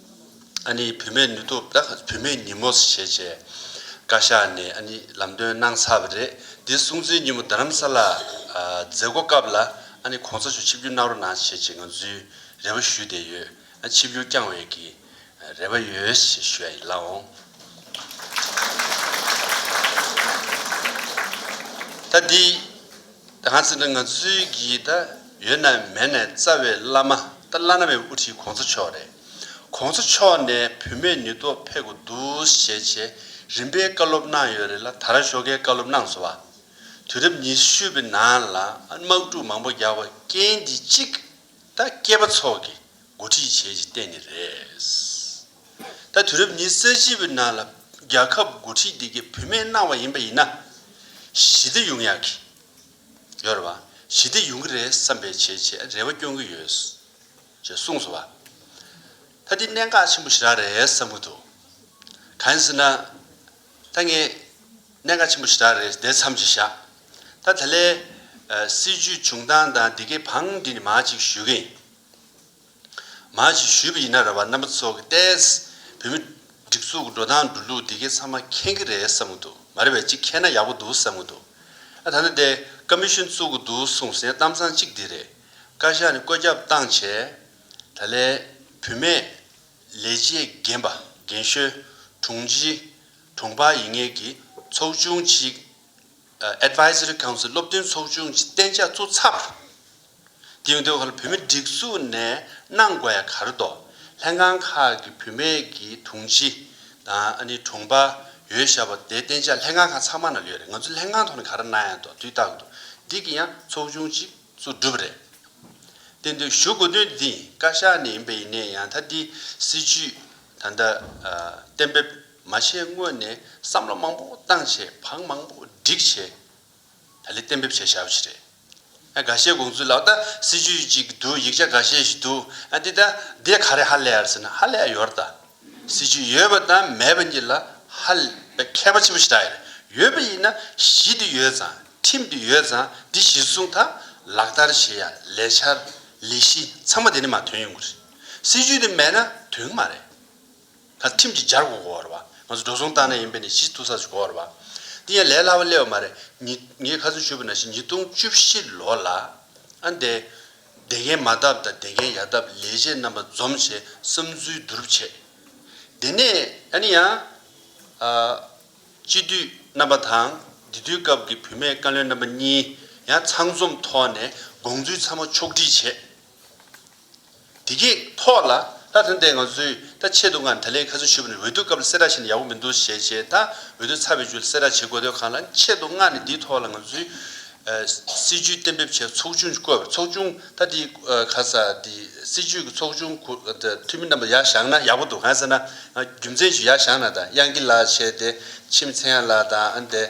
ཨ་ནེའི་བུད་མེད་ནུས་སྟོབས་དག་བུད་མེད་ཉིན་མོ་ཞེས་བྱས། བཀའ་ཤག་ནས་ཨ་ནེ་ལམ་སྟོན་གནང་ཚར་བ་རེད། འདི་སྲུང་བརྩིའི་ཉིན་མོ་རྡ་རམ་ས་ལ་མཛད་སྒོ་སྐབས་ལ་ཨ་ནེ་གོང་ས་ཆུ་ཆིབས་བསྒྱུར་གནང་རོགས་གནང་ཞེས་བྱས་ང་ཚོའི་རེ་བ་ཞུས་བསྡད་ཡོད། ཆིབས་བསྒྱུར་བསྐྱང་བའི་གི་རེ་བ་ཡོད་ཞེས་ཞུ་ཡ་ཡིན་ལགས་འོང། ད་འདི། གང་ཟེར་ན་ང་ཚོའི་གི་ད་ཡོད་ན་མེད་ནས་རྩ་བའི་བླ་མ་ད་བླ་ན་བའི་དབུ་ཁྲིད་གོང་ས་མཆོག་རེད་གོང་ས་མཆོག་ནས་བུད་མེད་ནུས་སྟོབས་འཕེལ་དགོས་འདུག་ཞེས་བྱེད་རིམ་པའི་བཀའ་སློབ་གནང་ཡོད་རེད་ལ་ད་ར་ཤོག་ཁའི་བཀའ་སློབ་གནང་སོ་བ། དུས་རབས་ཉི་ཤུ་པའི་ནང་ལ་དམག་འཁྲུག་མང་པོ་རྒྱག་པ་རྐྱེན་འདི་གཅིག་ད་སྐྱེས་པ་ཚོགས་ཀྱི་འགོ་ཁྲིད་བྱེད་ཀྱི་གཏན་ནི་རེད། ད་དུས་རབས་ཉི་ས་བཞི་པའི་ནང་ལ་རྒྱལ་ཁབ་འགོ་ཁྲིད་དེ་གས་བུད་མེད་གནང་བ་ཡིན་པ་ཡིན་ན། ཞི་བདེ་ཡོང་ཡག་གི་ཡོད་རེད་བ། ཞི་བདེ་ཡོང་གི་རེད་བསམ་པའི་བྱས་རྗེས་རེ་བ་སྐྱོང་གི་ཡོད། ཅེས་གསུངས་སོང་བ། ད་འདི་གནད་འགག་ཆེན་པོ་ཞིག་རག་རེད་བསམ་གི་འདུག་གང་ཟེར་ན། ད་ངས་གནད་འགག་ཆེན་པོ་ཞིག་རག་རེད་དེ་མཚམས་ཀྱིས་བཞག་ད་ད་ལའི་སྲིད་བྱུས་བྱུང་སྟངས་དང་འདི་གའི་བང་འགྲིག་ནི་མ་ཅིག་ཞུས་གིན། མ་ཞིག་ཞུས་པ་ཡིན་ན་ར་བ་རྣམ་པ་ཚོ་གི་ལྟས། བོད་མི་སྒྲིག་འཛུགས་འགྲོ་སྟངས་འགྲོ་ལུགས་འདི་གའི་ཚང་མ་མཁྱེན་གི་རེད་བསམ་གི་འདུག་མ་རེད་བས་གཅིག་མཁྱེན་ན་ཡག་པོ་འདུག་བསམ་གི་འདུག་ཨ་ད་ནི་དེ་ཀ་མི་ཤོན་བཙུགས་གི་འདུག་གསུངས་སའི་གཏམ་ཚང་གཅིག་འདི་རེད། བཀའ་ཤག་ནི་བཀོད་ཁྱབ་བཏང་བྱས། ད་ལས། བུད་མེད། ལས་བྱེད་རྒན་པ་རྒན་ཤོས། དྲུང་ཆེ། དྲུང་འཕར་ཡིན་ངེས་ཀྱི། ཚོགས་ཆུང་གཅིག། Advisory Council སློབ་སྟོན་ཚོགས་ཆུང་གཅིག་གཏན་འཇགས་བཙུགས་ཚར། དེང་དུས་ཁར་བུད་མེད་སྒྲིག་འཛུགས་ནས་གནང་དགོས་ཡ་གར་དོ། ལྷན་ཁང་ཁག་གི་བུད་མེད་ཀྱི་དྲུང་ཆེ་དང་དྲུང་པ་ཡོད་ཞབས་པ་དེ་བསྟན་བྱ་ལྷན་ཁང་ཁག་ཚང་མ་ན་ཡོད་རེད་ང་ཚོ་ལྷན་ཁང་ཐོག་ནས་ག་རེ་གནང་ཡ་དོ་དུས་རྟག་ཏུ་འདི་གི་ཡང་ཚོགས་ཆུང་གཅིག་གཙོ་སྒྲུབ་རེད་བསྟན་དུས་ཞུ་དགོས་དོན་འདི་བཀའ་ཤག་ནས་ཡིན་པ་ཡིན་ནའི་ཡང་ད་འདི་སྲིད་ཇུས་ད་ལྟ་གཏན་འབེབས་མ་བྱས་སྔོན་ནས་བསམ་བློ་མང་པོ་བཏང་བྱས་བག་མང་པོ་བསྒྲིགས་བྱས། ད་ལི་གཏན་འབེབས་བྱས་བྱ་བ་ཞིག་རེད། ཨ་ག་ཤའི་དགོངས་ཚུལ་ལགས་ད་སྲིད་ཇུས་ཅིག་འདུག་ཡིག་ཆ་ག་ཤས་ཤིག་འདུག་ཨ་དེ་ད་དེ་ག་རེ་ཧ་ལས་ཡར་ཟེར་ན་ཧ་ལས་ཡོར་ད། སྲིད་ཇུས་ཡོད་པ་དང་མེད་པ་གཉིས་ལ་ཧ་ལས་ཁྱད་པ་ཆེན་པོ་ཞིག་ད་ཡོད་རེད། ཡོད་པ་ཡིན་ན་གཞི་དེ་ཡོད་ཙང་ཁྲིམས་དེ་ཡོད་ཙང་དེ་གཞིར་བཟུང་ད་ལག་བསྟར་བྱེད་ཡ་ལས་འཆར་ལས་གཞི་ཚང་མ་དེ་ནས་མ་ཐོན་ཡོང་གི་རེད། སྲིད་ཇུས་དེ་མེད་ན་དོན་གི་མ་རེད། ད་ཁྲིམས་ཀྱི་སྦྱར་སྒོ་གོ་བར་བ། ང་ཚོ་འགྲོ་སོང་བཏང་ན་ཡིན་པས་ནི་གཞི་བཏུ་ས་སུ་གོ་བར་བ། འདི་ཡང་ལས་སླ་བ་སླེ་བ་མ་རེད། ཉིད། ངས་ཁ་ཚོན་ཆུད་པ་ན་བཞིན་ཉིས་སྟོང་བཅུ་བཞི་ལོ་ལ། ཨ་འདས། བདེ་རྒན་མ་བཏབ་དང་བདེ་རྒན་ཡ་བཏབ་ལས་བྱེད་རྣམ་པ་འཛོམས་བྱས་བསམ་ཚུལ་བསྡུ་རུབ་བྱས། དེ་ནས་ཨ་ནི་ཡང། ཨ། སྤྱི་འཐུས་རྣམ་པ་དང་འདི་དུས་སྐབས་ཀྱི་བུད་མེད་བཀའ་བློན་རྣམ་པ་གཉིས། ཡང་ཚང་འཛོམས་ཐོག་ནས་དགོངས་ཚུལ་ཚང་མ་ཕྱོགས་བསྒྲིགས་བྱས། དེ་གི་ཐོག་ལ་ད་ཐོན་ཏེ་ང་ཚོས་ད་ཆེད་དུ་ང་ད་ལའི་ཁ་ཚོན་ཞུ་བ་ནི་འོས་བསྡུ་སྐབས་ལ་སེར་ར་བྱས་ནས་ཡག་པོ་མི་འདུག་ཞེས་བྱས་ད་འོས་བསྡུ་ཚར་བའི་རྗེས་ལ་སེར་ར་བྱེད་དགོས་དོན་གང་ལ་ཆེད་དུ་ང་ནི་འདིའི་ཐོག་ལ་ང་ཚོའི་སྲིད་ཇུས་གཏན་འབེབས་བྱས་ཚོགས་ཆུང་བསྐོས་པ་ཚོགས་ཆུང་ད་དེ་ག་ས་དེ་སྲིད་ཇུས་ཀྱི་ཚོགས་ཆུང་གུ་འཐུས་མི་རྣམས་པ་ཡག་བཞག་ན་ཡག་པོ་འདུག་གང་ཟེར་ན་ང་རྒྱུ་མཚན་ཞིག་ཡག་བཞག་ན་ད་དབྱངས་སྐྱིད་ལགས་བྱས་ཏེ་ཁྱིམ་མཚེས་ཡང་ལགས་དང་ཨ་འདས།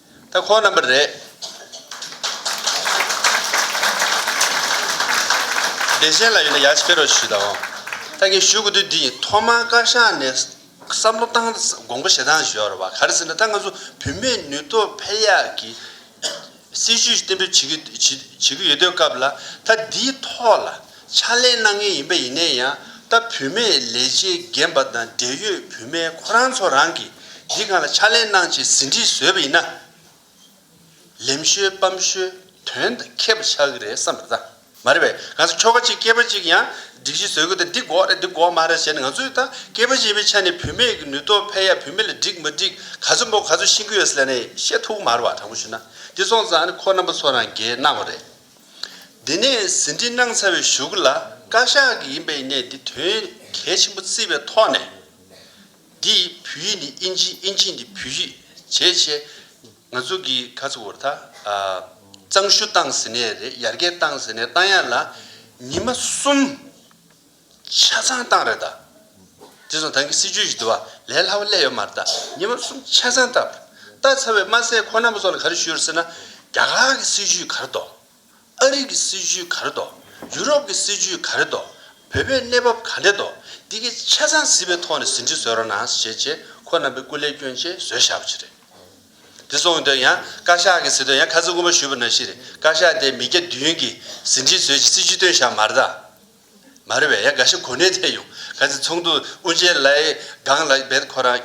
ད་ཁོ་རྣམ་པ་རེད། བདེ་གཤེགས་ལ་ཡོད་ན་ཡར་ཕྱི་ཕེ་རོགས་ཞུས་དང་འོང། ད་ངས་ཞུ་དགོས་དུས་འདི་ཡིན་ཐོག་མར་བཀའ་ཤག་ནས་བསམ་བློ་བཏང་དགོངས་པ་ཞེ་སྡང་ཞུ་ཡག་རེད་བ་ག་རེ་ཟེར་ན་ད་ང་ཚོ་བུད་མེད་ནུས་སྟོབས་འཕེལ་ཡག་གི་སྲིད་ཇུས་གཏན་འབེབས་བྱེད་ཀྱི་ཡོད་དུས་སྐབས་ལ་ད་འདིའི་ཐོག་ལ། ཕྱག་ལས་གནང་མཁན་ཡིན་པ་ཡིན་ནའི་ཡང་ད་བུད་མེད་ལས་བྱེད་རྒན་པ་དང་འབྲེལ་ཡོད་བུད་མེད་ཁོ་རང་ཚོ་རང་གིས་འདི་གང་ལ་ཕྱག་ལས་གནང་ཆེད་ཟིན་བྲིས་བཟོས་པ་ཡིན་ན། ལེམ་ཤོད་སྤམ་ཤོད་དོན་དང་ཁེབས་པ་ཆགས་ཀྱི་རེད་བསམ་པ་རེད། མ་རེད་པས་གང་ཟག་ཁྱོ་ག་ཅིག་སྐྱེས་པ་ཅིག་ཡང་སྒྲིག་གཞི་བཟོས་དགོས་ཏེ་འདི་འགོག་རེད་འདི་འགོག་མ་རེད་ཟེར་ནས་ང་ཚོས་ད་སྐྱེས་པ་ཅིག་པའི་ཆ་ནས་བུད་མེད་ཀྱི་ནུས་སྟོབས་འཕེལ་ཡག་བུད་མེད་ལ་འགྲིག་མ་འགྲིག་ག་ཚོད་འབོ་ག་ཚོད་ཤིང་གི་ཡོད་ཟེར་ནས་བཤད་ཐུག་གི་མ་རེད་བ་དྲང་པོ་ཞུ་ན་འདི་སོང་ཙང་ཁོ་རྣམ་པ་ཚོ་རང་འགལ་གནང་བ་རེད། འདི་ནས་ཟིན་བྲིས་གནང་ཚར་བའི་གཞུག་ལ་བཀའ་ཤག་གི་ཡིན་པའི་གནས་འདི་དོན་གལ་ཆེན་པོ་བརྩིས་པའི་ཐོག་ནས། འདི་བོད་ཡིག་ནི་ཨིན་ཇི་ཨིན་ཇི་འདི་བོད་ཡིག་བྱས་བྱས་ང་ཚོ་གི་ག་ཚོད་བོར་ད་གཙང་བཤུ་བཏང་ཟིན་ནས་རེད་ཡར་རྒྱས་བཏང་ཟིན་ནས་བཏང་ཡག་ལ་ཉི་མ་གསུམ། ཆ་ཚང་བཏང་རེད་ད། དེ་བཟུང་དང་གི་སྲིད་ཇུས་ཞིག་འདུ་བ་ལས་སླ་བོ་སླད་ཡོད་མ་རེད་ད་ཉེ་བར་གསུམ་ཆ་ཚང་བཏང་རེད། བཏང་ཚར་བའི་དམའ་སའི་ཁོ་ན་པོ་སོགས་ལ་ག་རེ་ཞུས་རེད་ཟེར་ན། རྒྱ་གར་གི་སྲིད་ཇུས་ག་རེ་དོ། ཨ་རིག་གི་སྲིད་ཇུས་ག་རེ་དོ། ཡུ་རོབ་གི་སྲིད་ཇུས་ག་རེ་དོ། བོད་པའི་གནས་བབ་ག་འདྲེ་དོ། འདི་གི་ཆ་ཚང་གཟིགས་པའི་ཐོག་ནས་ཟིན་བྲིས་བཟོས་རོགས་གནང་ཞེས་བྱས་ཁོ་ན་པོའི་སྐུ་ལས་སྐྱོན་ཆེ་བཟོས་བཞག་པ་ཞིག་རེད། དེ་སོང་དོན་ཡང་བཀའ་ཤག་གི་ཟེར་དོན་ཡང་ཁ་ཚིག་དགོངས་པ་ཞུས་པ་ནང་བཞིན་རེད་བཀའ་ཤག་དེས་མི་བརྒྱ་བདུན་གི་ཟིན་བྲིས་བཟོས་ཀྱི་སྲིད་ཇུས་བཏོན་བཞག་མ་རེད་ད། མ་རེད་བས་ཡ་དགའ་ཤོག་གོ་གནས་ཐད་ཡོང་ག་ཚེ་ཚོགས་འདུ་དབུ་འབྱེད་ལའི་སྒང་ལ་འབད་ཁོ་རང་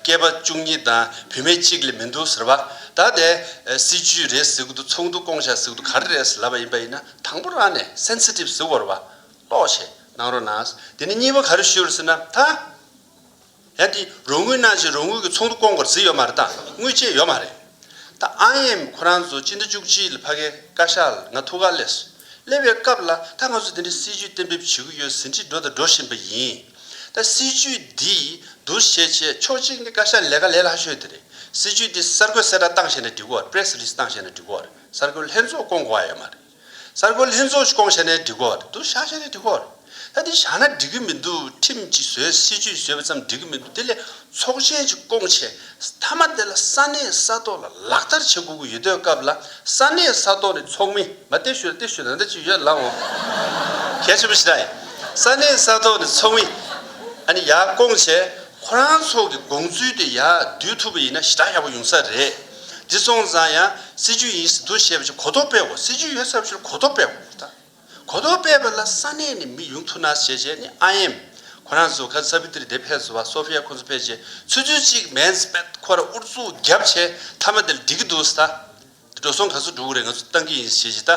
སྐྱེས་པ་བཅུ་གཉིས་དང་བུད་མེད་གཅིག་ལས་མི་འདུག་ཟེར་བ་ད་དེ་སྲིད་ཇུས་རེད་ཟེར་གི་འདུག་ཚོགས་འདུ་སྐོང་བཞག་ཟེར་གི་འདུག་ག་རེ་རེད་ལབ་པ་ཡིན་པ་ཡིན་ན་དང་པོ་རང་ནས Sensitive ཟེར་བར་བ་ཀློག་བྱེད་གནང་རོགས་གནང། དེ་ནས་གཉིས་པ་ག་རེ་ཞུ་རེད་ཟེར་ན་ད། ཡང་དེས་རོགས་དངུལ་གནང་ཕྱིར་རོགས་དངུལ་གྱི་ཚོགས་འདུ་བསྐོང་བར་གཟིགས་ཡོད་མ་རེད་དང་དངུལ་བཅད་ཡོད་མ་རེད། ད་ཨང་ཡེམ་ཁོ་རང་ཚོ་སྤྱི་ཟླ་བཅུ་གཅིག་ལ་ཕ་གའི་བཀའ་ཤག་ལ་ང་ཐུགས་ཀར་སླེབས་སོང། སླེབས་པའི་སྐབས་ལ་ད་ང་ཚོ་འདི་འདྲའི་སྲིད་ཇུས་གཏན་འབེབས་བྱེད་ཀྱི་ཡོད་ཟིན་ཁྲིད་འགྲོ་དང་འགྲོ་བཞིན་པ་ཡིན། ད་སྲིད་ཇུས་འདི་བསྡུར་བཤད་བྱེད་ཕྱོགས་གཅིག་ནི་བཀའ་ཤག་ལས་ཀ་ལས་ལྷག་ཤོས་འདི་རེད། སྲིད་ཇུས་འདི་གསར་འགོད་གསལ་བསྒྲགས་གཏང་ཤེས་ན་འགྲིག་གོ་བར Press Release གཏང་ཤེས་ན་འགྲིག་གོ་བར་གསར་འགོད་ལྷན་ཚོགས་བསྐོང་དགོས་ཨ་ཡོད་མ་རེད། གསར་འགོད་ལྷན་ཚོགས་སྐོང་བྱས་ནས་སྒྲིག་གོ་ད་དུ་བཞག་བྱས་ནས་སྒྲིག་གོ། ད་འདི་བཞག་ན་འགྲིག་གི་མི་འདུག་ཁྲིམས་ཀྱིས་བཟོས་སྲིད་ཇུས་བཟོས་པ་ཙམ་འགྲིག་གི་མི་འདུག་དེ་ལས་ཚོགས་ཆེན་གྱི་སྐོང་བྱས་མཐའ་མ་དེ་ལ་ས་གནས་ས་ཐོག་ལ་ལག་བསྟར་བྱེད་དགོས་ཀྱི་ཡོད་དོས་སྐབས་ལ་ས་གནས་ས་ཐོག་ནས་ཚོགས་མི་མ་ལྟེ་ཞུ་ལ་ལྟེ་ཞུ་ན་ད་ཅིག་ཡོད་ལགས་འོ་གལ་ཆེན་པོ་ཞིག་རེད། ས་གནས་ས་ཐོག་ནས་ཚོགས་མི་ཨ་ནི་ཡག་སྐོང་བྱས་ཁོ་རང་ཚོགས་ཀྱི་དགོངས་ཚུལ་དེ་ཡག་བསྡུས་ཐུབ་པ་ཡིན་ན་ཞི་དྲག་ཡག་པོ་ཡོང་ས་རེད། འདི་སོང་ཙང་ཡང་སྲིད་ཇུས་ཡིན་སྲིད་འདུག་བཤད་པ་ཆེ་གོ་རྟོགས་སྤེལ་དགོས་སྲིད་ཇུས་ཡོད་ཚབས་ཆེར་གོ་རྟོགས་སྤེལ་དགོས་ད་གོ་རྟོགས་སྤེལ་པ་ལ་ས་གནས་ནས་མི་ཡོང་ཐུབ་ན་བྱས་བྱས་ནི་ཨ་ཡེམ། ཁོ་རང་ཚོ་གྷ་ས་བི་ཏིར་དེ་ཕེབས་ཚོ་བ་སོ་ཕི་ཡ་ཁོང་ཚོ་ཕེབས་རྗེས་ཚུལ་ཚུལ་གཅིག་མན་ཟི་པད་ཁོ་ར་ཨུར་ཙུག་རྒྱབ་བྱས་མཐའ་མ་དེ་ལ་འགྲིག་གི་འདུག་ཟ་འདི་འགྲོ་སོང་ག་ཚོད་འགྲོ་གི་རེད་ང་ཚོ་བཏང་གི་ཡིན་ཟེར་བྱས་བྱས་ད་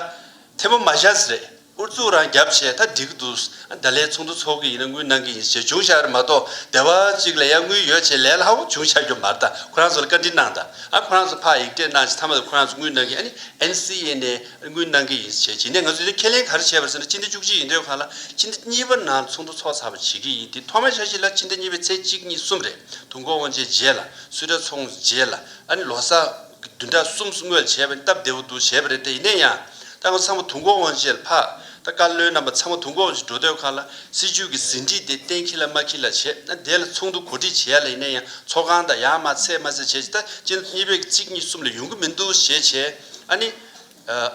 ཐེ་མོ་མ་བཞག་ཟེར། ཨུ་ཚུགས་རང་རྒྱབ་བྱས་ད་འགྲིག་གི་འདུག་ད་ལས་ཚོགས་འདུ་འཚོགས་ཀྱི་ཡིན་ན་དངུལ་གནང་གི་ཡིན་ཞེས་ཅུང་ཤ་རེ་མ་གཏོགས་སྡེ་བ་གཅིག་ལ་ཡང་དངུལ་ཡོད་བྱས་ལས་སླ་བོ་ཅུང་ཆགས་རྒྱུ་མ་རེད་ཁོ་རང་ཚོ་ལ་བཀའ་འདྲི་གནང་ད་ཁོ་རང་ཚོ་ཕག་ཡིག་སྤྲད་གནང་བྱས་མཐའ་མ་ད་ཁོ་རང་ཚོ་དངུལ་གནང་གི་ཡིན་ཨ་ནི NCA ནས་དངུལ་གནང་གི་ཡིན་བྱས་བྱས་ནས་ང་ཚོས་དེ་ཁས་ལེན་ག་རེ་བྱས་པར་ཟེར་ན་སྤྱི་ཟླ་བཅུ་གཅིག་ཡིན་དུས་ག་ལ་སྤྱི་ཟླ་གཉིས་པ་ནང་ཚོགས་འདུ་འཚོགས་ཚར་བ་བྱེད་ཀྱི་ཡིན་དེ་ཐོག་མར་འཆར་གཞི་ལ་སྤྱི་ཟླ་གཉིས་པའི་ཚེས་གཅིག་གཉིས་གསུམ་རེད་དུ་འགོ་འོང་བྱས་རྗེས་ལ་སུས་གྲ་ཚོགས་རྗེས་ལ་ཨ་ནི་ལོ་སར། བདུན་ཕྲག་གསུམ་བསྔོས་བྱས་པས་སྟབས་བདེ་བོ་འདུག་བྱས་པ་རེད་དེ་ཡིན་ན་ཡང་ད་སྔ་ཚང་མ་དུང་སྒོ་དབང་ཆེད་ལ་འཕགས་ད་བཀའ་བློན་རྣམ་པ་ཚང་མ་དུང་སྒོ་དབང་ཆེད་འགྲོ་འདོད་ཁག་ལ་སྲིད་ཇུས་ཀྱི་ཟིན་བྲིས་དེ་གཏན་འཁེལ་ལ་མ་འཁེལ་ལ་བྱས་ན་དེ་ལ་ཚོགས་འདུ་གོ་སྒྲིག་བྱས་ཡ་ལ་ཡིན་ན་ཡང་ཚོགས་ཁང་དང་ཡང་མ་ཚད་མ་ཚད་བྱས་ཅི་ད་ཅི་འདི་གཉིས་པའི་གི་ཚིག་གཉིས་གསུམ་ལ་ཡོང་གི་མི་འདུག་ཞེས་བྱས་ཨ་ནི།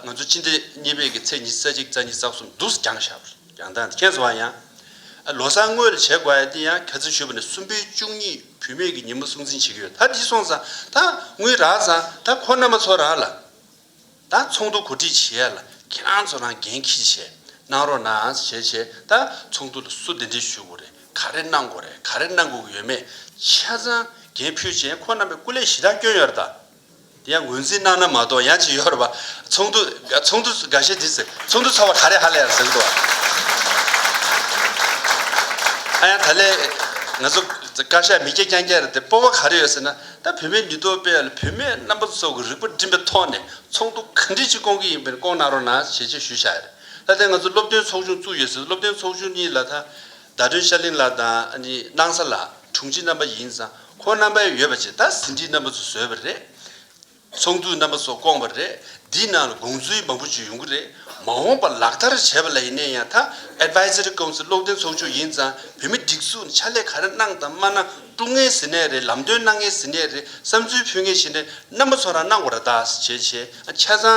ང་ཚོ་ཅི་འདི་གཉིས་པའི་གི་ཚེག་གཉིས་རྩ་གཅིག་རྩ་གཉིས་རྩ་གསུམ་འདུག་སེ་རྒྱང་ཞག་པར། ཡང་དག་མཁྱེན་བཟོ་བ་ཡང། ལོ་གསར་དངོས་ལ་བྱེད་དགོས་ཡ་དེ་ཡང་གལ་འཛིན་ཞུས་པ་ནས་གསུམ་པའི་བཅུ་གཉིས་བུད་མེད་ཀྱི་ཉིན་མོ་སྲུང་འཛིན་བྱེད་ཀྱི་ཡོད་ད་འདི་སོང་ཙང་ད་དངུལ་རག་ཙང་ད་ཁོ་མནའ་མ་ཚོ་རག་ལ། ད་ཚོགས་འདུ་གོ་སྒྲིག་བྱེད་ཡ་ལ་ཁྱེད་རང་ཚོ་རང་འགན་ཁྱི་བྱས་གནང་རོགས་གནང་ཞེས་བྱས་ད་ཚོགས་འདུ་ལ་སུ་དེ་འདྲས་ཞུས་དགོས་རེད་ག་རེ་གནང་དགོས་རེད་ག་རེ་གནང་དགོས་ཀྱི་ཡོད་མེད་ཆ་ཚང་འགན་ཕུད་བྱས་ཁོ་རྣམ་པའི་སྐུ་ལས་གཞི་བདག་བསྐྱོན་ཡོད་རེད་ད། དེ་ཡང་ངོས་འཛིན་གནང་ན་མ་གཏོགས་ཡང་ཅི་ཡོད་རེད་པ། ཚོགས་འདུ། ཚོགས་འདུ། འགའ་ཤས་འདི་ཟེར། ཚོགས་འདུ་ཚོགས་པ་ག་རེ་ཧ་ལས་ཡར་ཟེར་གི་འདུག་བ། ཨ་ཡང་ད་ལས། ང་ཚོ། བཀའ་ཤག་མི་སྐྱ་རྐྱང་རྐྱང་རེད་དེ་སྤོབས་པ་ག་རེ་ཡོད་ཟེར་ན། ད་བོད་མིའི་མི་ཐོག་དཔེ་ཡོད་ལ་བོད་མི་རྣམ་པ་ཚོ་གི་རིག་པ་སྒྲིམ་པའི་ཐོག་ནས་ཚོགས་འདུ་ག་འདྲི་ཅིག་སྐོང་གི་ཡིན་པ་ནི་སྐོང་གནང་རོགས་གནང་ཞེས་ཆེད་ཞུ་བཞག་ཡོད་རེད། ལྷ་ལྡན་ང་ཚོ་སློབ་སྟོན་ཚོགས་ཆུང་བཙུགས་ཡོད་ཟེར་སློབ་སྟོན་ཚོགས་ཆུང་གཉིས་ལ་ད། ཟླ་སྒྲོན་ཤར་གླིང་ལགས་དང་ཨ་ནི་སྣང་ས་ལགས་དྲུང་ཆེ་རྣམ་པ་ཡིན་ཙང་ཁོང་རྣམ་པའི་ཡོད་པ་ཆེ་ད་ཟིན་བྲིས་རྣམ་པ་ཚོ་བཟོས་པ་རེད། ཚོགས་འདུ་རྣམ་པ་སོགས་བསྐོངས་པ་རེད་འདིའི་ནང་ལ་དགོངས་ཚུལ་མང་པོ་བརྗོད་ཡོང་གི་རེད་མ་འོངས་པར་ལག་བསྟར་བྱེད་པ་ལ་ཡིན་ནས་ཡང་ད Advisory Council བློ་བསྟན་ཚོགས་ཆུང་ཡིན་ཙང་བོད་མི་སྒྲིག་འཛུགས་ཕྱག་ལས་ག་རེ་གནང་དང་མ་གནང་དཀྲུག་ངེས་ཟིན་ནས་རེད་ལམ་སྟོན་གནང་ངེས་ཟིན་ནས་རེད་བསམ་ཚུལ་ཕུལ་ངེས་བྱེད་ནས་རྣམ་པ་ཚོ་རང་གནང་བ་ར་ད་བྱས་བྱས་ཆ་ཚང།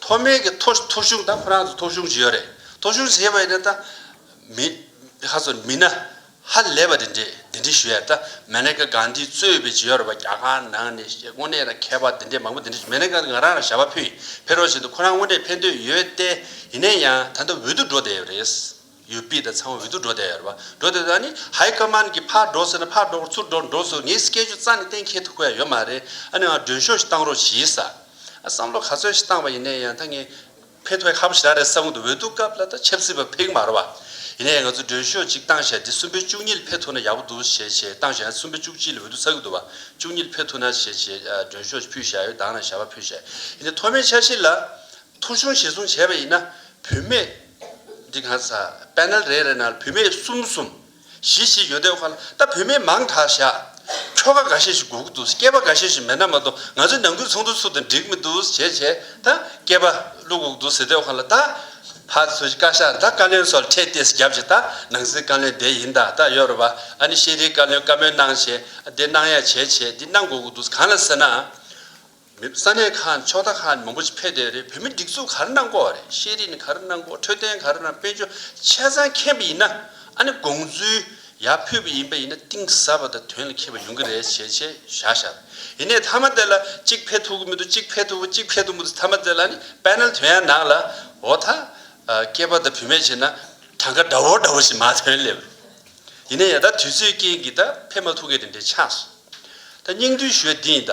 མཐོ་དམན་གྱི་ཐོ་ཐོ་གཞུང་དང་ཁོ་རང་ཚོ་ཐོ་གཞུང་བྱས་ཡོད་རེད། ཐོ་གཞུང་བྱས་པ་ཡིན་ན་ད། མི། ཧ་ཚོ་མི་ན། ཧ་ལས་པ་དེ་འདྲས་དེ་འདྲས་ཞུ་ཡ་ད་མེ་ནེ་ཀ་གང་དེའི་གཙོས་པའི་བྱས་ཡོད་རེད་པ་རྒྱ་གར་ནང་ནས་ཞེས་དངོས་གནས་ན་མཁས་པ་དེ་འདྲས་མང་པོ་དེ་འདྲས་མེ་ནེ་ཀ་ང་རང་རང་ཞབས་པ་ཕུད་ཡིན་ཕེ་རོ་བཞིན་དུ་ཁོ་རང་དངོས་གནས་ཕེ་འདོད་ཡོད་ཏེ་ཡིན་ནས་ཡང་ད་ད་འོད་དུ་འགྲོ་བསྡད་ཡོད་རེད། ཡུལ་དཔེ་དང་ཚང་བ་འོད་དུ་འགྲོ་བསྡད་ཡོད་རེད་པ། འགྲོ་བསྡད་ད་ནི་ཧའི་ཀ་མཱན་གྱིས་ཕར་འགྲོ་ཟེར་ན་ཕར་འགྲོ་གོ་ཚུར་འགྲོ་འགྲོ་ཟེར་ངའི་སྐད་ཆུ་རྩ་ནས་གཏན་འཁེལ་ཐུབ་ཀ་ཡ་ཡོད་མ་རེད་ཨ་ནི་ང་མགྲོན་ཤོག་ཞིག་བཏང་རོགས་གྱིས། བསམ་བློ་ག་ཚོད་ཞིག་བཏང་བ་ཡིན་ནའི་ཡང་ད་ངས་ཕེ་ཐོ་ཡ་ཧ་པོ་ཞིག་རག་རེད་བསམ་གི་འདུག་འོད་དུ་སྐབས་ལ་ད་ཆབ་སྲིད་པ་ཕེག་མ་རེད་པ། ཡིན་ནའི་ཡང་ང་ཚོས་མགྲོན་ཤོག་ཅིག་བཏང་ཞེ་ད་གསུམ་པའི་བཅུ་གཉིས་ལ་ཕེ་ཐོ་ན་ཡག་པོ་འདུག་ཞེས་བྱས་བཏང་ཞེ་ད་གསུམ་པའི་བཅུ་གཅིག་ལ་འོད་དུ་ཚ་གི་འདུག་བ། བཅུ་གཉིས་ལ་ཕེ་ཐོ་ན་ཞེས་བྱས་མགྲོན་ཤོག་ཅིག་ཕུལ་ཞེ་ཡ་ཡོད་ད་ང་རང་ཞལ་པ་ཕུལ་ཞེ་ཡིན་ནའི་ཐོག་མའི་འཆར་གཞི་ལ། ཐོ་ཆུང་ཞེ་གསུམ་བྱས་པ་ཡིན་ན་བུད་མེད། འདི་གང་ཟ། Panel རེ་རེ་ནང་བུད་མེད་གསུམ་གསུམ། བཞི་བཞི་ཡོད་དེ་ཁོ་ལ་ད་བུད་མེད་མང་དྲགས་བཞག། ཁྱོ་ག་འགའ་ཤས་ཤིག་སྒུག་འདུག་སྐྱེས་པ་འགའ་ཤས་ཤིག་མེད་ན་མ་གཏོགས་ང་ཚོའི་ནང་ཁུལ་ཚོགས་འདུ་ཚུགས་དང་འགྲིག་མི་འདུག་བྱས་བྱས་ད་སྐྱེས་པ་གླུ་སྒུག་འདུག་ཟེར་དེ་ཁོ་ལ་ད། ཕ་ཚོས་བཀའ་ཤག་ད་བཀའ་བློན་སོགས་ཁྲལ་ཏེས་བརྒྱབ་བྱས་ད་ནང་སྲིད་བཀའ་བློན་དེ་ཡིན་ད་ད་ཡོད་རེད་བ་ཨ་ནི་ཤེས་རིའི་བཀའ་བློན་བཀའ་མོལ་གནང་བྱས་ཨ་དེ་གནང་ཡ་བྱས་བྱས་འདི་གནང་དགོས་དགོས་འདུག་གང་ལ་ཟེར་ན། མི་ས་གནས་ཁག་ནས་ཕྱོགས་མཐའ་ཁག་ནས་མང་པོ་ཞིག་ཕེབས་བསྡད་རེད་བོད་མི་སྒྲིག་འཛུགས་ག་རེ་གནང་དགོས་རེད་ཤེས་རིག་ནི་ག་རེ་གནང་དགོས་འཕྲོད་བསྟེན་ག་རེ་གནང་དཔལ་འབྱོར་ཆ་ཚང་མཁྱེན་པ་ཡིན་ན་ཨ་ནི་དགོངས་ཚུལ་ཡག་ཕུལ་བ་ཡིན་པ་ཡིན་ན་གཏིང་ཟབ་པ་དང་དོན་ལ་འཁེལ་བ་ཡོང་གི་རེད་བྱས་བྱས་བཞག་བཞག་ཡིན་ནའི་མཐའ་མ་དེ་ལ་གཅིག་ཕེབས་ཐུབ་ཀྱི་མི་འདུག་གཅིག་ཕེབས་ཐུབ་ཀྱི་གཅིག་ཕེབས་ཐུབ་མི་འདུག་མཐའ་མ་དེ་ལ་ཨ་ནི Panel དོན་ཡང་ནང་ལ་འོ་ད་སྐྱེས་པ་དང་བུད་མེད་བྱས་ན་གྲངས་ཀ་འདྲ་བོ་འདྲ་བོ་ཞིག་མ་ཐོན་སླེབས་རེད་ཡིན་ནའི་ཡ་ད་དུས་ཚོད་རྐྱེན་གྱིས་ད་ཕེབས་མ་ཐུབ་ཀི་རེད་འདྲེ་ཆགས་སོང་ད་སྙིང་བསྡུས་ཞུས་བདེ་ཡིན་ད།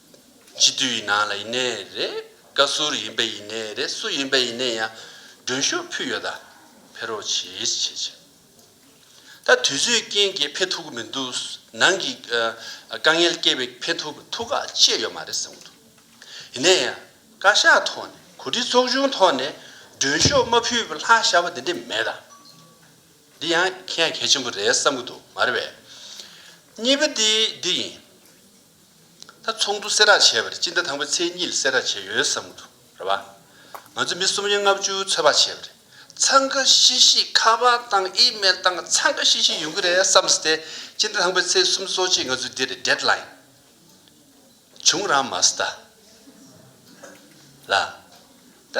སྤྱི་འཐུས་ཡིན་ནའང་ལ་ཡིན་ནའི་རེད། བཀའ་ཟུར་ཡིན་པའི་ཡིན་ནའི་རེད་སུ་ཡིན་པའི་ཡིན་ནའི་ཡང་མགྲོན་ཞུ་ཕུལ་ཡོད་ད་ཕེ་རོག་བྱེད་ཅི་བྱེད་བྱེད། ད་དུས་ཚོད་རྐྱེན་གྱིས་ཕེ་ཐུག་གི་མི་འདུག་ནང་གི་དཀའ་ངལ་སྐྱེས་པས་ཕེ་ཐུག་གི་ཐུགས་ཁག་བཅད་ཡོད་མ་རེད་བསམ་གྱི་འདུག་ཡིན་ནའི་ཡང་བཀའ་ཤག་ཐོག་ནས་གོ་སྒྲིག་ཚོགས་ཆུང་ཐོག་ནས་མགྲོན་ཤོག་མ་ཕུལ་བའི་ལྷག་ཞག་པ་དེ་འདྲས་མེད་ད། འདི་ཡང་གལ་ཡང་གལ་ཆེན་པོ་རེད་བསམ་གྱི་འདུག་མ་རེད་བས། གཉིས་པ་དེ་འདི་ཡིན། ད་ཚོགས་འདུ་སེ་རག་བྱས་པ་རེད་སྤྱི་ཟླ་དང་པོའི་ཚེས་གཉིས་ལ་སེ་རག་བྱས་ཡོད་བསམ་གི་འདུག་རེད་བ། ང་ཚོ་མི་གསུམ་ཡན་ལྔ་བཅུ་ཚོད་དཔག་བྱས་པ་རེད། འཚང་ཁ་ཤིག་ཤིག་ཁ་པར་བཏང་ཨི་མེལ་བཏང་འཚང་ཁ་ཤིག་ཤིག་ཡོང་གི་རེད་བསམ་སྟེ་སྤྱི་ཟླ་དང་པོའི་ཚེས་གསུམ་གསོག་ཆེད་ང་ཚོས་འདི་རེད་འདེད་ལ་ཡིན། བྱུང་རང་མ་སྟ། ལ། ད།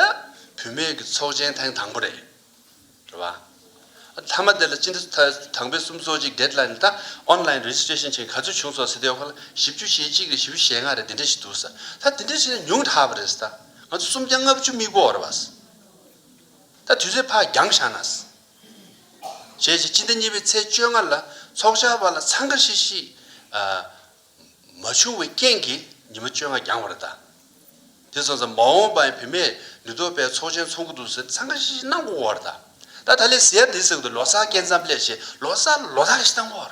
བུད་མེད་ཀྱི་ཚོགས་ཆེན་ཐེངས་དང་པོ་རེད། རེད་བ། མཐའ་མ་དེ་ལ་སྤྱི་འཐུས་དང་པོའི་གསུམ་གཙོ་གཅིག་སྡེད་ལ་ནི་ད online registration བྱེད་ག་ཚོད་བྱུང་སོགས་ཟེར་དེ་ཡོག་ལ་བཞི་བཅུ་ཞེ་གཅིག་རེ་བཞི་བཞི་ཞེ་ལྔ་རེ་དེ་འདྲ་ཞིག་འདུག་ས་ད་དེ་འདྲ་ཞིག་ན་ཉུང་དྲགས་པ་རེད་ས་ད་ང་ཚོ་སུམ་བརྒྱ་ལྔ་བཅུ་དམིགས་པོ་རེད་བ་ས་ད་དུས་ཚོད་ཕ་རྒྱང་བཞག་ན་ས་བྱས་བྱས་སྤྱི་ཟླ་གཉིས་པའི་ཚེས་བཅོ་ལྔ་ལ་ཚོགས་བཅར་བ་ལ་འཚང་ཁ་ཤིག་ཤིག། མ་བྱུང་བའི་རྐྱེན་གྱིས་ཉི་མ་བཅོ་ལྔ་འགྱངས་བར་གདའ། དེ་སོང་ཙམ་མ་འོངས་པའི་བུད་མེད་ནུས་སྟོབས་པའི་ཚོགས་ཆེན་འཚོག་གི་འདུག་ཟེར་འཚང་ཁ་ཤིག་ཤིག་གནང་དགོས་བར་གདའ། ད་ད་ལེ་ཟེར་འདི་ཟེར་གི་འདུག་ལོ་སར་སྐྱེལ་མཚམས་སླེབས་ཞེས་ལོ་སར་ལོ་ལྟ་ཁ་ཤིག་བཏང་བར།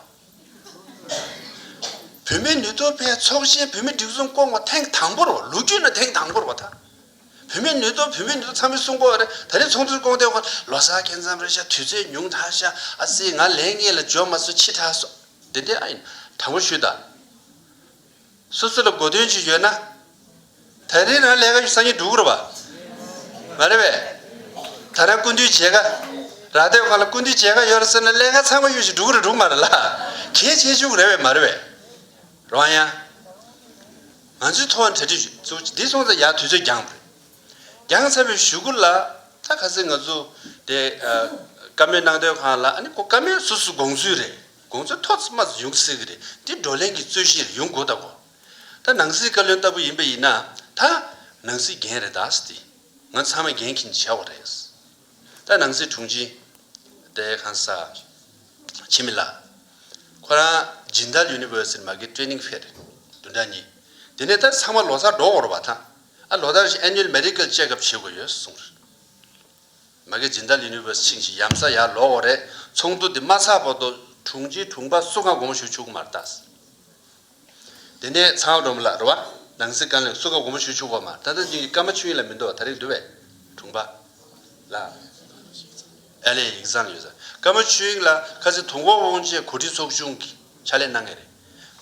བུད་མེད་ནུས་སྟོབས་པའི་ཚོགས་ཆེན་བུད་མེད་སྒྲིག་འཛུགས་བསྐོང་བ་ཐེངས་དང་པོར་བ་ལོ་རྒྱུས་ན་ཐེངས་དང་པོར་བ་ད། བུད་མེད་ནུས་སྟོབས་བུད་མེད་ནུས་སྟོབས་ཚང་མའི་གསུང་བསྐོང་བ་རེད་ད་རེས་ཚོགས་འདུར་བསྐོང་ཐེངས་ཁོ་ལོ་སར་སྐྱེལ་མཚམས་རེད་ཤག་དུས་ཚོད་ཉུང་དྲགས་ཤག་ཨ་ཙི་ང་ལན་རྙེད་ལ་འབྱོར་མ་སོང་ཕྱི་དྲགས་སོང། བདེན་བདེན་ཨ་ཡིན་དྲང་པོ་ཞུས་དང། སོ་སོ་ལ་དགོས་དོན་ཅིག་ཡོད་ན། ད་རེས་རང་ལས་ཀ་ཞིག་སང་ཉིན་སྒྲུབ་དགོས་རེད་པ་མ་རེད་པས། ཐ་ན་ཀུན་འདུས་བྱེད་ཀ། རག་སྡོད་ཁང་ལ་ཀུན་འདུས་བྱེད་ཀ་ཡོད་རེད་ཟེར་ན་ལས་ཀ་ཚང་མ་ཡོད་ཞིག་སྒྲུབ་དགོས་རེད་འགྲུབ་མ་རེད་ལ། གལ་ཆེ་ཤོས་རེད་པས་མ་རེད་པས། རང་ཡང། ང་ཚོའི་ཐོག་གྲ་སྒྲིག་ཞུས་འདི་སོང་ཙང་ཡག་དུས་ཚོད་འགྱངས་དགོས། རྒྱང་ཚ་བའི་ཞུ་སྒོ་ལ་ད་ག་ཚེད་ང་ཚོ་དེ་ཀ་མེད་ནང་དོན་ཁང་ལ་ཨ་ནི་ཀོ་ཀ་མེད་སོ་སོའི་དགོངས་ཚུལ་རེད་དགོངས་ཚུལ་ཐོག་ཙི་མ་ཙི་ཡོང་སྲིད་གི་རེད་འདི་བགྲོ་གླེང་གི་རྩོད་གཞི་རེ་ཡོང་དགོས་ད་གོ་ད་ནང་སྲིད་བཀའ་བློན་ལྟ་བུ་ཡིན་པ་ཡིན་ན་ད་ནང་སྲིད་འགན་རེ་དྭགས་སི་ང་ཚང་མ་འགན་འཁྱིན་བྱ་བ་རེད་ད་ནང་སྲིད་དྲུང་ཆེ་དེ་གང་ས་ཆེ་མི་ལ་ཁོ་རང་སྦྱིན་བདག་ཡུ་ནི་བོར་སིལ་མ་གི་ཀྲེ་ནིང་ཕེར་དུ་འདྲ་གཉིས་དེ་ནས་ད་ཚང་མ་ལོ་སར་འགྲོ་འོར་བ་ད། ཨ་ལོ་ད་རེས Annual Medical Check Up བྱེད་དགོས་ཡོད་གསུངས་རེད། མ་གེ་ཇིན་དཱལ་ཡུ་ནི་ཝེར་སི་ཆིང་ཞིག་ཡམ་ས་ཡར་ལོག་འོག་རེད་ཚོགས་འདུ་དེ་མ་ཚགས་པ་དོ་དྲུང་ཆེ་དྲུང་པ་སུ་ག་དགོངས་ཞུ་ཆུག་མར་ད་ཟེར། དེ་ནས་ཚང་བ་འགྲོ་མི་ལ་རུ་བ་ནང་སི་ཀ་ལེང་སུ་ག་དགོངས་ཞུ་ཆུག་བ་མ་ད་ད་ཅིང་གི་ཀ་མ་ཆུ་ཡིན་ལ་མི་འདུ་བ་ད་རེས་འདུ་བས་དྲུང་པ་ལ་ཨ་ལེ་ཡིག་ཚང་ཡོད་ས་ཀ་མ་ཆུ་ཡིན་ལ་ཁ་སི་དོ་འགོག་དབང་ཆའི་གོ་སྒྲིག་ཚོགས་ཆུང་གི་ཕྱག་ལས་གནང་ངེས་རེད།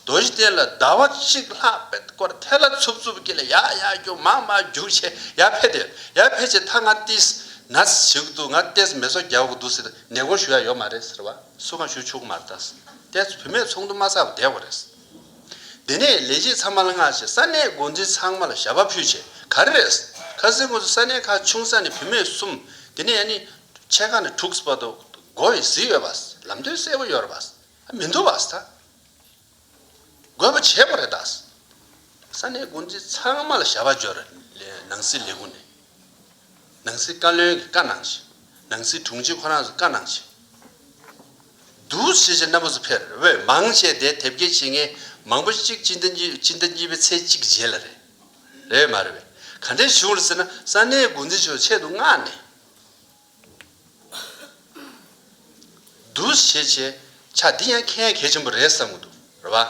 རྡོ་རྗེ་གཏེར་ལ་ཟླ་བ་གཅིག་ལྷག་པའི་སྐོར་ཐད་ལ་འཚུབ་འཚུབ་ཀྱིས་ལ་ཡ་ཡ་རྒྱུག་མག་མག་རྒྱུག་བྱས་ཡ་ཕེ་དེ་ཡ་ཕེ་བྱས་མཐར་ང་ཏིས་ན་ཟི་གི་འདུག་ང་ཏེས་མེ་སོ་རྒྱ་བོ་གི་འདུག་ཟེར་ནས་སྒོར་ཞུ་ཡ་ཡོད་མ་རེད་ཟེར་བ་སུ་གང་ཞུ་ཆུག་གི་མ་རེད་ད་ཏེས་བུད་མེད་ཚོགས་འདུ་མ་ཚར་བ་བསྡད་གོ་རེད། དེ་ནས་ལས་བྱེད་ཚང་མ་ལ་སྔགས་བྱས་ས་གནས་འགོ་འཛིན་ཚང་མ་ལ་ཞབས་པ་ཕུད་བྱས་ག་རེ་རེད། ཁ་ཟས་ངོས་སུ་ས་གནས་ཁ་ཆུང་ས་ནས་བུད་མེད་གསུམ་དེ་ནས་ཡ་ནི་ཆས་ཁ་ནས་དྲུག་བར་དུ་སྒོ་ཡི་ཟི་ཡོད་པ་ལམ་སྟོན་གསལ་བོ་ཡོད་རེད་པ། མི་འདུག་བ་ས་འགོད་པ་བྱས་པ་རེད་ད། ས་གནས་འགོ་འཛིན་ཚང་མ་ལ་བྱ་བ་སྦྱོར། ནང་སྲིད་ལས་ཁུངས་ནས་ནང་སྲིད་བཀའ་བློན་གྱི་བཀའ་གནང་ཆེད་ནང་སྲིད་དྲུང་ཆེ་ཁོ་རང་ཚོ་བཀའ་གནང་ཆེད། བསྡུ་བྱེད་ཆེད་སྣ་པོ་ཚོ་ཕེར་འོས་མང་བྱས་བསྡད་དེབ་སྐྱེལ་བྱེད་མཁན་མང་པོ་གཅིག་སྤྱི་ཟླ་གཉིས་སྤྱི་ཟླ་གཉིས་པའི་ཚེས་གཅིག་རྗེས་ལ་རེད། རེད་མ་རེད་བས་ག་འདྲས་བྱུང་ལ་ཟེར་ན་ས་གནས་འགོ་འཛིན་ཆོས་ཆེད་དུ་མངགས་ནས། འདུ་ཤེས་བྱེད་བྱ་འདི་ཡང་ཁྱེད་གལ་ཆེན་པོ་རེད་བསམ་གི་འདུག་རེད་བ།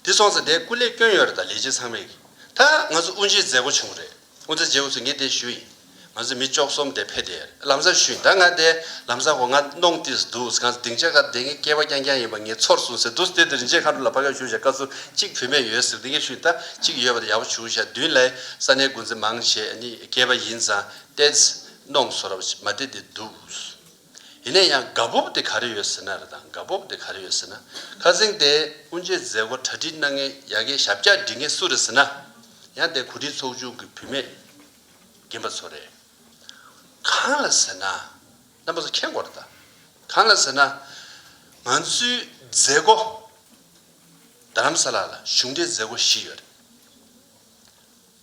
འདི་སོང་ཙང་དེ་སྐུ་ལས་སྐྱོན་ཡོད་རེད་ད་ལས་བྱེད་ཚང་མས་ད་ང་ཚོ་དབུ་འབྱེད་མཛད་སྒོ་བྱུང་རེད་དབུ་འཛད་བྱེད་འུ་ཚོ་ངས་དེ་ཞུ་ཡིན་ང་ཚོ་མི་ཅོག་གསུམ་དེ་ཕེ་དེ་ལམ་བཟང་ཞུ་ཡིན་ད་ང་དེ་ལམ་བཟང་གོ་ང་གནོང་ཏིས་འདུག་ང་ཚོ་སྡིངས་ཆ་ཁར་བསྡད་ངའི་སྐད་པ་རྐྱང་རྐྱང་ཡིན་པ་ངས་ཚོར་སོང་ཟེར་འདུག་དེ་དེ་རིན་ཆེན་མཁའ་འགྲོ་ལ་ཕ་ག་ཞུ་བྱ་དཀའ་ཚུལ་གཅིག་བུད་མེད་ཡོད་ཟེར་དེ་ངས་ཞུ་ཡིན་ད་གཅིག་ཡོད་པ་དེ་ཡག་པོ་ཞུ་བྱ་བདུན་ལས་ས་གནས་འགོ་འཛིན་མང་ཆེ་ནི་སྐྱེས་པ་ཡིན་ཙང་ཏེས་གནོང་སོ་རབ་ཅིག་མ་དེ་དེ་འདུག། ཡིན་ན་ཡང་དགའ་སྤོབས་དེ་ག་རེ་ཡོད་ཟེར་ན་རེ་དང་དགའ་སྤོབས་དེ་ག་རེ་ཡོད་ཟེར་ན། ཁ་ཟིང་དེ་སྤུན་མཆེད་མཛད་སྒོ་གྲ་སྒྲིག་གནང་མཁན་ཡ་གི་ཞབས་བཀྱག་སྒྲིག་མཁན་སུ་རེད་ཟེར་ན། ཡང་དེ་གོ་སྒྲིག་ཚོགས་ཆུང་གི་བུད་མེད་རྒན་པ་ཚོ་རེད། གང་ལ་ཟེར་ན། རྣམ་པ་ཚོ་མཁྱེན་དགོས་རེད་ད། གང་ལ་ཟེར་ན། ང་ཚོའི་མཛད་སྒོ། རྡ་རམ་ས་ལ་ལ་གཞུང་འབྲེལ་མཛད་སྒོ་བཞི་ཡོད་རེད།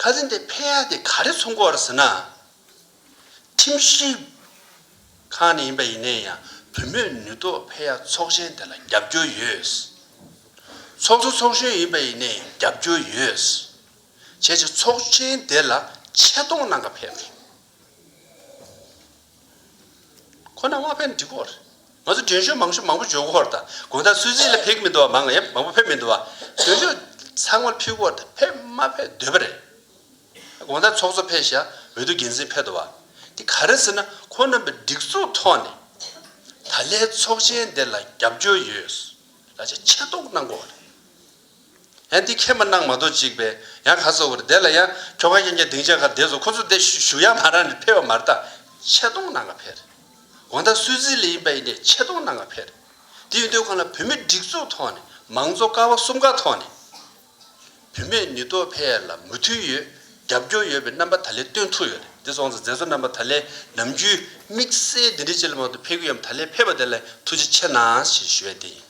ཁ་ཟས་འདི་ཕལ་ཡག་འདི་ག་རེ་ཚོང་གོ་བར་ཟེར་ན། ཁྲིམས་ཞིབ་ཁང་ནས་ཡིན་པ་ཡིན་ནའི་ཡང་བུ་མོས་ནུས་ཐོག་ཕལ་ཡག་ཚོགས་ཆེན་དེ་ལ་རྒྱབ་སྐྱོར་ཡོད། ཚོགས་གཙོ་ཚོགས་གཞོན་ཡིན་པ་ཡིན་ནའི་རྒྱབ་སྐྱོར་ཡོད། བྱས་ཚེ་ཚོགས་ཆེན་དེ་ལ་ཆེ་མཐོང་གནང་ག་ཕལ། ཁོ་ན་དབང་ཕན་འབྲི་སྐོར། ང་ཚོ་འགྲན་ཞུགས་མང་ཤོས་མང་པོ་འཇོག་སྐོར་དང་དགོན་དང་ཚུལ་བརྩི་ལ་ཕེབས་ཀྱི་མི་འདུག་བ་མང་ཡབ་མང་པོ་ཕེབས་མི་འདུག་བ། འགྲན་ཞུགས་ཚང་མར་ཕེབས་སྐོར་དང་ཕེབས་མ་ཕེབས་འདོད་པ་རེད། དགོན་དང་ཚོགས་གཙོ་ཕེབས་ཤག་འོས་བསྡུ་འགན་འཛིན་ཕེབས་འདུག་བ། དེ་ག་རེ་ཟེར་ན་ཁོ་རྣམ་པའི་སྒྲིག་འཛུགས་ཐོག་ནས་ད་ལའི་ཚོགས་ཆེན་འདི་ལ་རྒྱབ་སྐྱོར་ཡོད་ལ་ཆེ་མཆན་གཏོང་གནང་སྐོར་བ་རེད། ཡང་འདི་ཁྱེད་མ་གནང་མ་གཏོགས་ཅིག་པས་ཡང་ག་ཚོགས་པར་བསྡད་ལ་ཡང་ཁྱོ་ག་གཡན་རྒྱ་སྡིངས་ཆ་གར་བསྡད་སོང་ཁོ་ཚོ་བསྡད་བཞུགས་ཡང་མ་རང་ནས་ཕེར་བ་མ་རྟགས་ཆེ་མཐོང་གནང་ག་ཕེར། འོ་ད་སུད་ཛི་ལི་ཡིན་པ་ཡིན་ནས་ཆེ་མཐོང་གནང་ག་ཕེར། འདི་ཡོད་དོན་ཁོ་ན་བུད་མེད་སྒྲིག་འཛུགས་ཐོག་ནས་མང་གཙོ་ཀ་བ་གསུམ་ཀ་ཐོག་ནས་བུད་མེད་ནུས་སྟོབས་འཕེལ་ཡ་ལ་མུ་མཐུད་ཡོད་རྒྱབ་སྐྱོར་ཡོད་པའི་རྣམ་པ་ད་ལེ་སྟོན་ཐུབ་ཡོད་རེད་འདི་སོང་ཙང་མཛད་གཙོ་རྣམ་པ་ད་ལེ་ནམ་རྒྱུན་དམིགས་བསལ་འདི་འདྲི་བྱེད་ལ་མང་དུ་ཕེར་གི་ཡོད་མ་ད་ལེ་ཕེར་བ་དེ་ལ་ཐུགས་རྗེ་ཆེ་གནང་ཞེས་ཞུ་བས་དེ་ཡིན།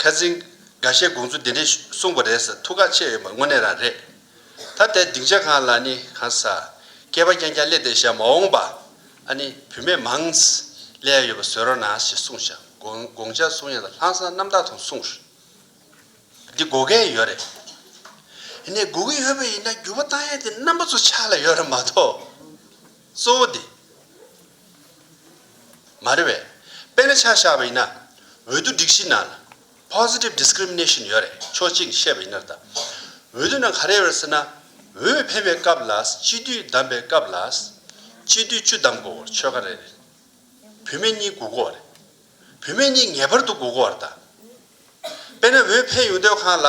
ཁ་རྩིང། འགའ་ཤས་དགོངས་ཚུལ་འདི་འདྲས་གསུངས་པ་རེད་ཟེར་ཐུགས་ཁག་ཆེ་ཡོད་པ་དངོས་གནས་རང་རེད། ད་ལྟའི་སྡིངས་ཆ་གང་ལ་ནི་གང་ཟག། སྐྱེས་པ་རྐྱང་རྐྱང་སླེབས་ཏེ་བཞག་མ་འོངས་པ། ཨ་ནི་བུད་མེད་མང། ལས་ཡོད་པ་བཟོས་རོགས་གནང་ཞེས་གསུངས་བཞག་དགོངས་འཇགས་གསུང་ཡང་ལྷང་སང་རྣམ་དག་དང་གསུངས། འདི་དགོ་གས་ཡོད་རེད། ཨ་ནི་དགོ་གི་ཡོད་པ་ཡིན་ན་འགྱུར་བ་གཏང་ཡས་དེ་རྣམ་པ་ཚོ་ཆགས་ལ་ཡོད་རེད་མ་གཏོགས། གཙོ་བོ་དེ་མ་རེད་བས། དཔེར་ན་ཆ་བཞག་པ་ཡིན་ན། འོས་བསྡུ་སྒྲིག་གཞིའི་ནང་ལ Positive Discrimination ཡོད་རེད་ཆོག་གཅིག་བཤད་པ་ཡིན་ནར་ད། འོས་བསྡུ་ནང་ག་རེ་ཡོད་རེད་ཟེར་ན། འོས་འཕེན་པའི་སྐབས་ལ་སྤྱི་འཐུས་བདམས་པའི་སྐབས་ལ། སྤྱི་འཐུས་བཅུ་བདམས་གོ་བར་ཆོལ་ཁ་རེ་རེར་བུད་མེད་གཉིས་དགུ་གོ་བ་རེད། བུད་མེད་གཉིས་ངེས་པར་དུ་སྒུག་དགོས་བར་གདའ། དཔེར་ན་འོས་འཕེན་ཡོང་སྡོད་ཁང་ལ།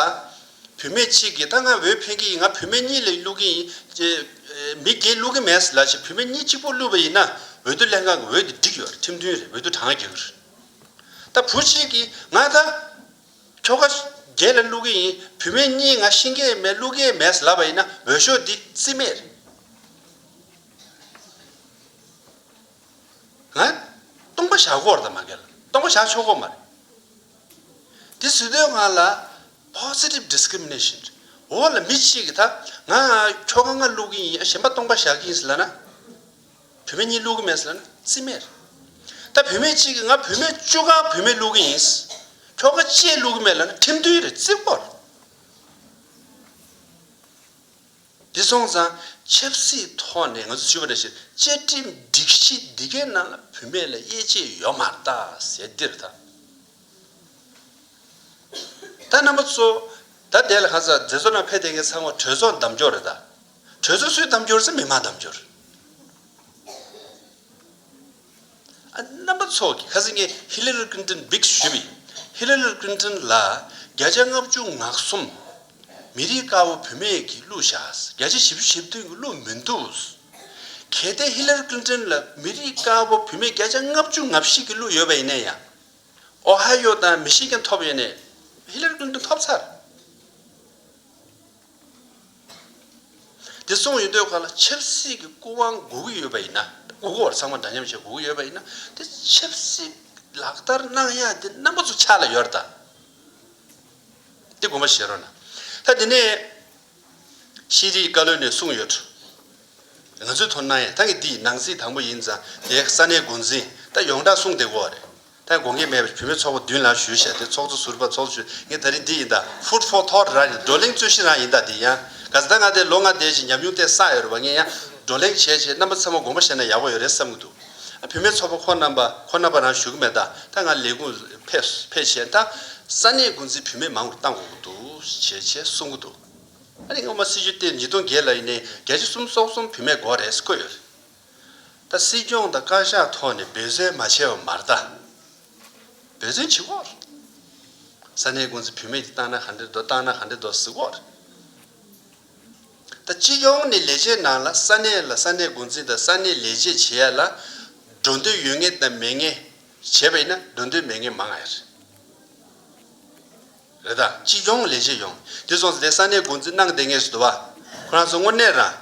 བུད་མེད་གཅིག་གིས་ད་ང་འོས་འཕེན་གི་ཡིན་ང་བུད་མེད་གཉིས་ལས་བསླུ་གི་ཡིན། མི་བརྒྱད་བསླུ་གི་མེད་ལ་ཞེས་བུད་མེད་གཉིས་གཅིག་པོ་བསླུས་པ་ཡིན་ན་འོས་བསྡུ་ལྷན་ཁང་གི་འོས་དེ་འགྲིག་ཡོད་རེད་ཁྲིམས་མཐུན་རེད་འོས་བསྡུ་གྲང་རྒྱག་གི་རེད། ད་བུ་གཅིག་གིས་ང་ད་ཁྱོ་ག་བརྒྱད་ལ་བསླུ་གི་ཡིན་བུད་མེད་གཉིས་ང་ཤིང་གས་མེད་བསླུ་གས་མེད་ལབ་པ་ཡིན་ན་འོས་ཤོག་འདི་རྩིས་མེད་རེད། སྟོང་པ་ཞག་གོར་དང་མ་འགལ། སྟོང་པ་ཞག་ཕྱོགས་གོར་མ་རེད། དེ་ཟེར་དུས་ང་ལ Positive Discrimination རེད། འོ་ལ་མི་གཅིག་གིས་ད་ང་ཁྱོ་ག་ང་བསླུ་གིན་ཡིན་གཞན་པ་སྟོང་པ་ཞག་ཡིན་ཟེར་ལ་ན། བུད་མེད་གཉིས་བསླུ་གི་མེད་ཟེར་ལ་ན་རྩིས་མེད་རེད། ད་བུད་མེད་གཅིག་གིས་ང་བུད་མེད་བཅུ་ག་བུད་མེད་བསླུ་གི་ཡིན། ཁྱོ་ག་བཅས་བསླུ་གི་མེད་ལ་ན་ཁྲིམས་མཐུན་རེད་རྩིས་གོ་རེད། འདི་སོང་ཙང་ཆབ་སྲིད་ཐོག་ནས་ང་ཚོ་ཇུས་པ་རེ་བྱེད་བཅའ་ཁྲིམས་སྒྲིག་གཞི་འདི་གའི་ནང་ལ་བུད་མེད་ལ་དབྱེ་འབྱེད་ཡོད་མ་རྟ་ཟེར་འདིར་ད་ད་རྣམ་པ་ཚོ་ད་དེ་ལ་ཁ་ཚ་དེ་ཚོ་ན་ཕེ་དེ་གའི་ཚང་མ་གྲོས་ཚོགས་འདམ་སྐྱོར་རེད་ད་གྲོས་ཚོགས་སུས་འདམ་སྐྱོར་ཚེ་མི་མང་འདམ་སྐྱོར། རྣམ་པ་ཚོགས་ཀྱིས་ཁ་ཟས་ངས་ཧི་ལེ་ལེར་ཀིན་ཀྲིན་བིག་ཞུས་པའི་ཧི་ལེ་ལེར་ཀིན་ཀྲིན་ལ་བརྒྱ་ཆ་ལྔ་བཅུ་ང་གསུམ། མི་རིགས་དཀར་བོ་བུད་མེད་ཀྱིས་གླུ་བཞག་བརྒྱ་ཆ་བཞི་བཅུ་བཞི་བདུན་གྱི་གླུ་མི་འདུག། གལ་ཏེ་ཧི་ལེ་ལེར་ཀིན་ཀྲིན་ལ་མི་རིགས་དཀར་བོ་བུད་མེད་བརྒྱ་ཆ་ལྔ་བཅུ་ང་བཞི་གྱི་གླུ་ཡོད་པ་ཡིན་ན་ཡང། ཨོ་ཧ་ཡོ་དང་མི་ཤི་ཀན་ཐོབ་ཡོད་ནས་ཧི་ལེ་ལེར་ཀིན་ཀྲིན་ཐོབ་ཚར། དེ་གསུངས་ཡོད་དུས་ག་ལ་ཆབ་སྲིད་ཀྱི་སྐུ་དབང་དགོས་ཀྱི་ཡོད་པ་ཡིན་ན། དགོས་ཀྱི་བར་ཚང་མ་འདྲ་མཉམ་བྱེད་དགོས་ཀྱི་ཡོད་པ་ཡིན་ན། དེ་ཆབ་སྲིད་ལག་བསྟར་གནང་ཡག་དེ་རྣམ་པ་ཚོ་ཆགས་ལ་ཡོད་ད། དེ་དགོངས་པ་བཞེས་རོགས་གནང། ད་དེ་ནས། ཤེས་རིག་བཀའ་བློན་ནས་གསུངས་ཡོད། ང་ཚོས་དོ་སྣང་ཡང་ད་གི་འདི་ནང་སྲིད་དང་པོ་ཡིན་ཙང་དེ་ས་གནས་འགོ་འཛིན་ད་ཡོངས་གྲགས་གསུངས་བསྡད་གོ་རེད། ཐད་དགོངས་འགལ་མེད་པར་བུད་མེད་ཚོགས་པ་བདུན་ལ་ཞུས་བྱས་ཏེ་ཚོགས་གཙོ་ཟུར་པ་ཚོགས་གཙོ་ཞུས་ངེས་ད་རིང་འདི་ཡིན་ད། Food for thought རང་གི་བགྲོ་གླེང་རྩོད་གཞི་རང་ཡིན་ད་འདི་ཡང། ག་ཟེ་ད་ང་དེ་ལོ་ལྔ་འདས་ཅིང་ཉམས་མྱོང་བསྟན་སྲ་ཡོད་རེད་བ་ངས་ཡང་བགྲོ་གླེང་བྱས་བྱས་རྣམ་པ་ཚང་མ་དགོངས་པ་བཞེས་ན་ཡག་པོ་ཡོད་རེད་བསམ་གྱི་འདུག་བུད་མེད་ཚོགས་པ་ཁོ་རྣམ་པ་ཁོ་རྣམ་པ་རང་ཞུ་གི་མེད་ད་ད་ང་ལས་ཁུངས་ཕེབས་ཕེབས་བྱས་ད། ས་གནས་འགོ་འཛིན་བུད་མེད་མང་བོར་བཏང་དགོས་གི་འདུག་བྱས་བྱས་གསུང་གི་འདུག་ཨ་རིག་སྔོན་མ་སྲིད་ཇུས་སྟེང་ཉིས་སྟོང་བརྒྱད་ལ་ཡིན་ནས་རྒྱལ་སྤྱི་གསུམ་སོག་གསུམ་བུད་མེད་དགོས་རེད་བཀོད་ཡོད་རེད། ད་སྲིད་སྐྱོང་དང་བཀའ་ཤག་ཐོག་ནས་འབོད་བསོལ་མ་བྱས་བ་མར་ད་འབོད་བསོལ་བྱེད་དགོས། ས་གནས་དགོན་ཚུལ་བུད་མེད་ཀྱི་བཏང་ན་ག་འདྲེ་འགྲོ་བཏང་ན་ག་འདྲེ་འགྲོ་གཟིགས་དགོས། ད་སྤྱི་སྐྱོང་ནས་ལས་བྱེད་ནང་ལ་ས་གནས་ལ་ས་གནས་དགོན་ཚུལ་དང་ས་གནས་ལས་བྱེད་བྱེད་ཡ་ལ་འགྲོ་འདོད་ཡོད་ངེས་དང་མེད་ངེས་བྱེད་པ་ཡིན་ན་འགྲོ་འདོད་མེད་ངེས་མང་ཡ་རེད། རེད་ད། སྤྱི་སྐྱོང་ལས་བྱེད་ཡོང། དེ་སོང་ཚེ་དེ་ས་གནས་འགོ་འཛིན་གནང་བསྡད་ངེས་སུ་འདུག་བ། ཁོ་རང་ཚོ་དངོས་གནས་རང།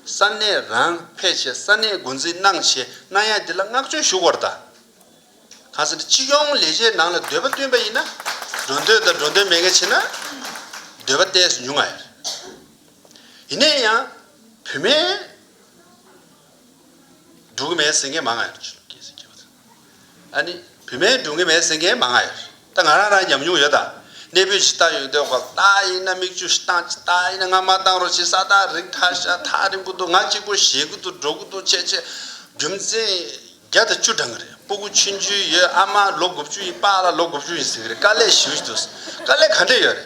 ས་གནས་རང་ཕེད་ཆེད་ས་གནས་འགོ་འཛིན་གནང་བྱས་གནང་ཡ་དེ་ལ་བསྔགས་བརྗོད་ཞུ་དགོར་ད། གང་ཟེར་ན་སྤྱི་སྐྱོང་ལས་བྱེད་ནང་ལ་འདོད་པ་བསྟུན་པ་ཡིན་ན། འགྲོ་འདོད་དང་འགྲོ་འདོད་མེད་མཁན་བྱེད་ན། འདོད་པ་བསྟན་སུ་ཉུང་ང་ཡོད། ཡིན་ན་ཡང། བུད་མེད། འབྲུ་གུ་མའི་ཟེ་འགས་མ་ང་ཡོར། བུད་མེད་འབྲུ་གུ་མའི་ཟེ་འགས་མ་ང་ཡོར། ད་ང་རང་རང་ཉམས་མྱོང་ཡོད་ད། གནས་སྤོས་ཇི་ལྟར་ཡོད་འདོད་ཁོ་ད་ཡིན་ན་མིག་ཆུ་ཞིག་བཏང་ཇི་ལྟར་ཡིན་ན་ང་མ་བཏང་རོགས་ཇི་ས་ད་རིག་ད་ཤ་ད་རིང་གུ་འདུག་ང་གཅིག་པོ་ཞེད་གུ་འདུག་འགྲོ་གུ་འདུག་ཆེ་ཆེ། རྒྱུ་མཚན། བརྒྱ་དང་བཅུ་གྲངས་ཀྱི་རེད་སྤོ་གུ་ཆུན་ཆུན་ཡོད་ཨ་མ་ལོ་དགུ་བཅུ་ཡིན་པཱ་ལ་ལོ་དགུ་བཅུ་ཡིན་ཟེར་གི་རེད་དཀའ་ལས་ཞེ་བཞི་འདུག་དཀའ་ལས་ག་འདྲས་ཡོད་རེད།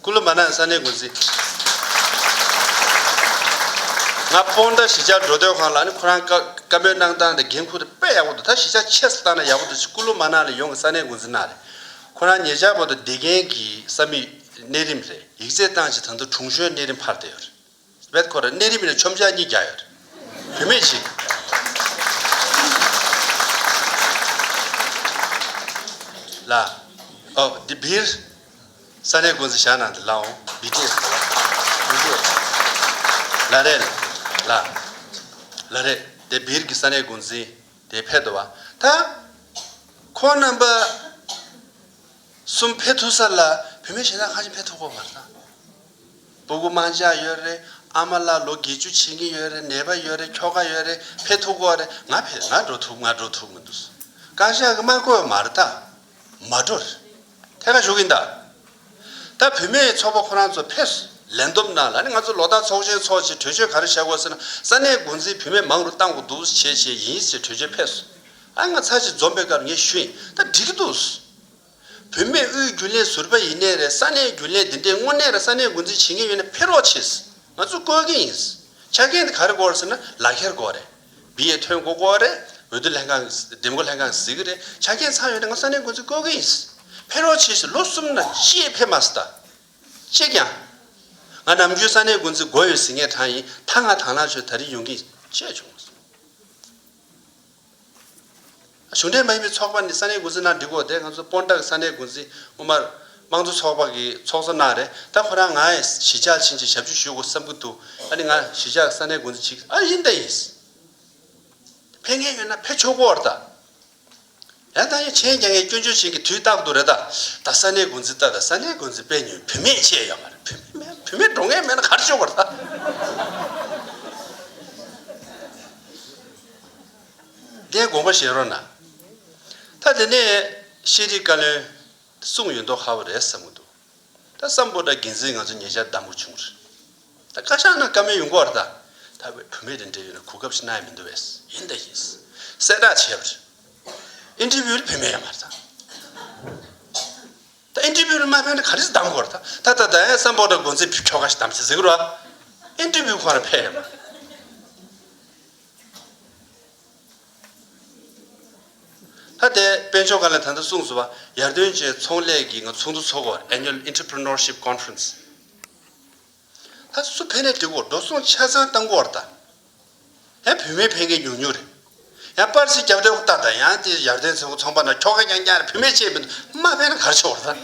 སྐུ་ལོ་མ་ནག་ས་གནས་འགོ་འཛིན། ང་སྤོ་མདའ་གཞིས་ཆགས་འགྲོ་སྡོད་ཁང་ལ་ནི་ཁོ་རང་བཀའ་མོལ་གནང་སྟངས་དང་འགན་འཁུར་ཏེ་དཔེ་ཡག་པོ་འདུག་ད་གཞིས་ཆགས་ཆས་སུ་བཏང་ན་ཡག་པོ་འདུག་ཅེས་སྐུ་ལོ་མ་ནག་ལས་ཡོངས་ཀྱི་ས་གནས་འགོ་འཛིན་གནང་རེད། ཁོ་རང་ཉེ་ཆར་བོད་དོ་སྡེ་རྒན་གྱི་ས་མིག་གནས་རིམ་རེད་ཡིག་རྩེད་བཏང་རྗེས་ད་དུང་དྲུང་གཞོན་གནས་རིམ་འཕར་བསྡད་ཡོད་རེད། བེད་ཁོ་རེ་གནས་རིམ་ནས་ཆོམ་བྱ་གཉིས་བརྒྱ་ཡོད། བུད་མེད་གཅིག། ལ། ཨོ། འདི་བིར། ས་གནས་དགོན་གཟི་ཞག་ནང་དུ་ལའོ། བི་ཏེ། བི་ཏེ། ལ་རེ། ལ། ལ་རེ། དེ་བིར་གྱི་ས་གནས་དགོན་གཟི། དེ་ཕེ་དོ་བ། ཐ། ཁོ་རྣམ་པ། གསུམ་ཕེ་ཐུ་ས་ལ་བུད་མེད་གཞན་དག་ཁ་ཅིག་ཕེ་ཐུ་ཁོ་བར་ཐ། སྤུ་གུ་མང་བཞག་ཡོད་རེད་ཨ་མ་ལགས་ལོ་བརྒྱད་ཅུ་ཕྱིན་གྱི་ཡོད་རེད་ནད་པ་ཡོད་རེད་ཁྱོ་ག་ཡོད་རེད་ཕེ་ཐུག་གོ་རེད་ང་ཕེ་ང་འགྲོ་ཐུབ་ང་འགྲོ་ཐུབ་མི་འདུག་བཀའ་ཤག་གི་དམག་གོས་མར་ད་མ་འགྲོ་རེད་ཐད་ཀ་ཞུགས་གིན་གདའ། ད་བུད་མེད་ཚོགས་པ་ཁོ་རང་ཚོ་ཕེ་ལན་འདོམ་ན་ལ་ནི་ང་ཚོ་ལོ་ལྟག་ཚོགས་ཆེན་ཚོགས་ཆེད་གྲོས་ཆོད་ག་རེ་བྱ་དགོས་ཟེར་ན་ས་གནས་མགོ་འཛིན་བུད་མེད་མང་རུ་བཏང་གི་འདུག་བྱས་བྱས་ཡིན་ཟེར་གྲོས་ཆོད་ཕེ་ཨ་ང་ཚ་ཞིག་འཛོམས་པའི་སྐབས་ངས་ཞུས་ཡིན་ད་འགྲིག་གི་འདུག། བུད་མེད་དབུས་རྒྱུན་ལས་ཟུར་པ་ཡིན་ནའི་རེད་ས་གནས་རྒྱུན་ལས་འདི་འདྲས་དངོས་གནས་ར་ས་གནས་འགོ་འཛིན་བྱེད་མཁན་ཡོད་ན་ཕེ་རོགས་བྱེད་སྲིད་ང་ཚོ་བཀོལ་མཁན་ཡིན་སྲིད་ཆ་མཁན་དེ་ག་རེ་བཀོལ་སྲིད་ན་ལག་ཁྱེར་བཀོལ་རེད་བི་ཡའི་ཐོན་སྒོ་བཀོལ་རེད་འོས་བསྡུ་ལྷན་ཁང་འདེམས་བསྐོ་ལྷན་ཁང་གཟིགས་ཀྱི་རེད་ཆ་མཁན་ཚང་ཡོད་ན་ང་ས་གནས་འགོ་འཛིན་བཀོལ་མཁན་ཡིན་སྲིད་ཕེ་རོགས་བྱེད་སྲིད་ལོ་གསུམ་ན་ཅིའི་ཕེབས་མ་སྲིད་ད་ཅིག་ཀྱང་ང་ནམ་རྒྱུན་ས་གནས་འགོ་འཛིན་འགོ་ཡོད་ཟིག་ངས་དྲང་ཡིན་ད་ང་དྭང་ལག་ཆོད་ད་རིང་ཡོང་གིན་ཅེས་བྱུང། གཞུང་འབྲེལ་མ་ཡིན་པའི་ཚོགས་པ་ནི་ས་གནས་འགོ་འཛིན་ནང་འགྲིག་གོ་དེ་ང་ཚོ་སྤོན་བྲག་ས་གནས་འགོ་འཛིན་དབུ་མར་དམངས་གཙོ་ཚོགས་པ་གི་ཚོགས་གཙོ་གནང་རེད་ད་ཁོ་རང་ང་གཞིས་ཆགས་ཕྱིན་ཅིག་ཞབས་ཞུ་ཞུ་དགོ་བསམ་གི་འདུག་ཨ་ནི་ང་གཞིས་ཆགས་ས་གནས་འགོ་འཛིན་བྱེད་གི་ཨ་ཡིན་ད་ཡིན། ཕེ་མཁན་ཡོད་ན་ཕེ་ཆོག་གོ་ཨར་ད། ཡང་དང་ཡང་ཆན་རྒྱ་ངས་སྐྱོན་བརྗོད་བྱེད་གི་དུས་རྟག་ཏུ་རེད་ད་ད་ས་གནས་འགོ་འཛིན་ད་ད་ས་གནས་འགོ་འཛིན་པེ་ཉོན་བུད་མེད་བཅས་ཡོད་མ་རེད་བུད་མེད་མེད་བུད་མེད་འགྲོ་མཁན་མེད་ན་ག་རེ་ཆོག་གོ་ཨར་ད། བརྡའི་དགོངས་པ་བཞེས་རོགས་གནང། ད་དེ་ནས་ཤེས་རིག་བཀའ་བློན་གསུངས་ཡོད་མདོག་ཧ་བ་རེད་བསམ་གྱི་འདུག་ད་བསམ་པོ་ད་འགན་འཛིན་ང་ཚོ་ཉེ་ཆར་བདམས་དགོས་བྱུང་རེད་ད་བཀའ་ཤག་ནང་བཀའ་མོལ་ཡོང་གོ་རེད་ད་ད་བའི་བུ་མེད་རེད་འབྲེལ་ཡོད་ནང་གོ་སྐབས་ཤིག་གནང་ཡ་མི་འདུག་བས་ཡིན་ད་ཡིན་གསལ་བསྒྲགས་བྱས་པ་རེད Interview ལ་ཕེབས་མེད་ཡ་མ་རེད་ད་ད Interview ལ་མ་ཕེབས་ན་ག་རེ་ཟིག་བདམས་དགོས་རེད་ད་ད་ད་ད་ཡང་བསམ་པོ་ད་འགོ་འཛིན་བུ་ཁྱོ་ག་ཞིག་བདམས་ཚེ་ཟིག་རོགས Interview ཁོ་རང་ཕེབས་ཡ་མ་རེད། ད་ལྟའི་དཔལ་འབྱོར་ཁང་ལས་ད་ལྟ་གསུངས་སོ་བ་ཡར་ཐོན་ཅན་ཚོང་ལས་ཀྱི་ང་ཚོགས་འདུ་ཚོགས་སྐོར Annual Entrepreneurship Conference ད་སུ་ཕན་ནས་འགྲིག་གོ་འགྲོ་སོང་ཆ་ཚང་བཏང་གོ་བར་ད་ཡང་བུད་མེད་ཕན་མཁན་ཉུང་ཉུང་རེད་ཡང་པར་ཚིག་རྒྱབ་སྟེགས་ལྟ་ད་ཡང་དེ་ཡར་ཐོན་ཚོང་པ་ན་ཁྱོ་ག་རྐྱང་རྐྱང་རེད་བུད་མེད་ཆེད་མི་འདུག་མ་ཕན་ན་གར་ཆོག་བར་ད།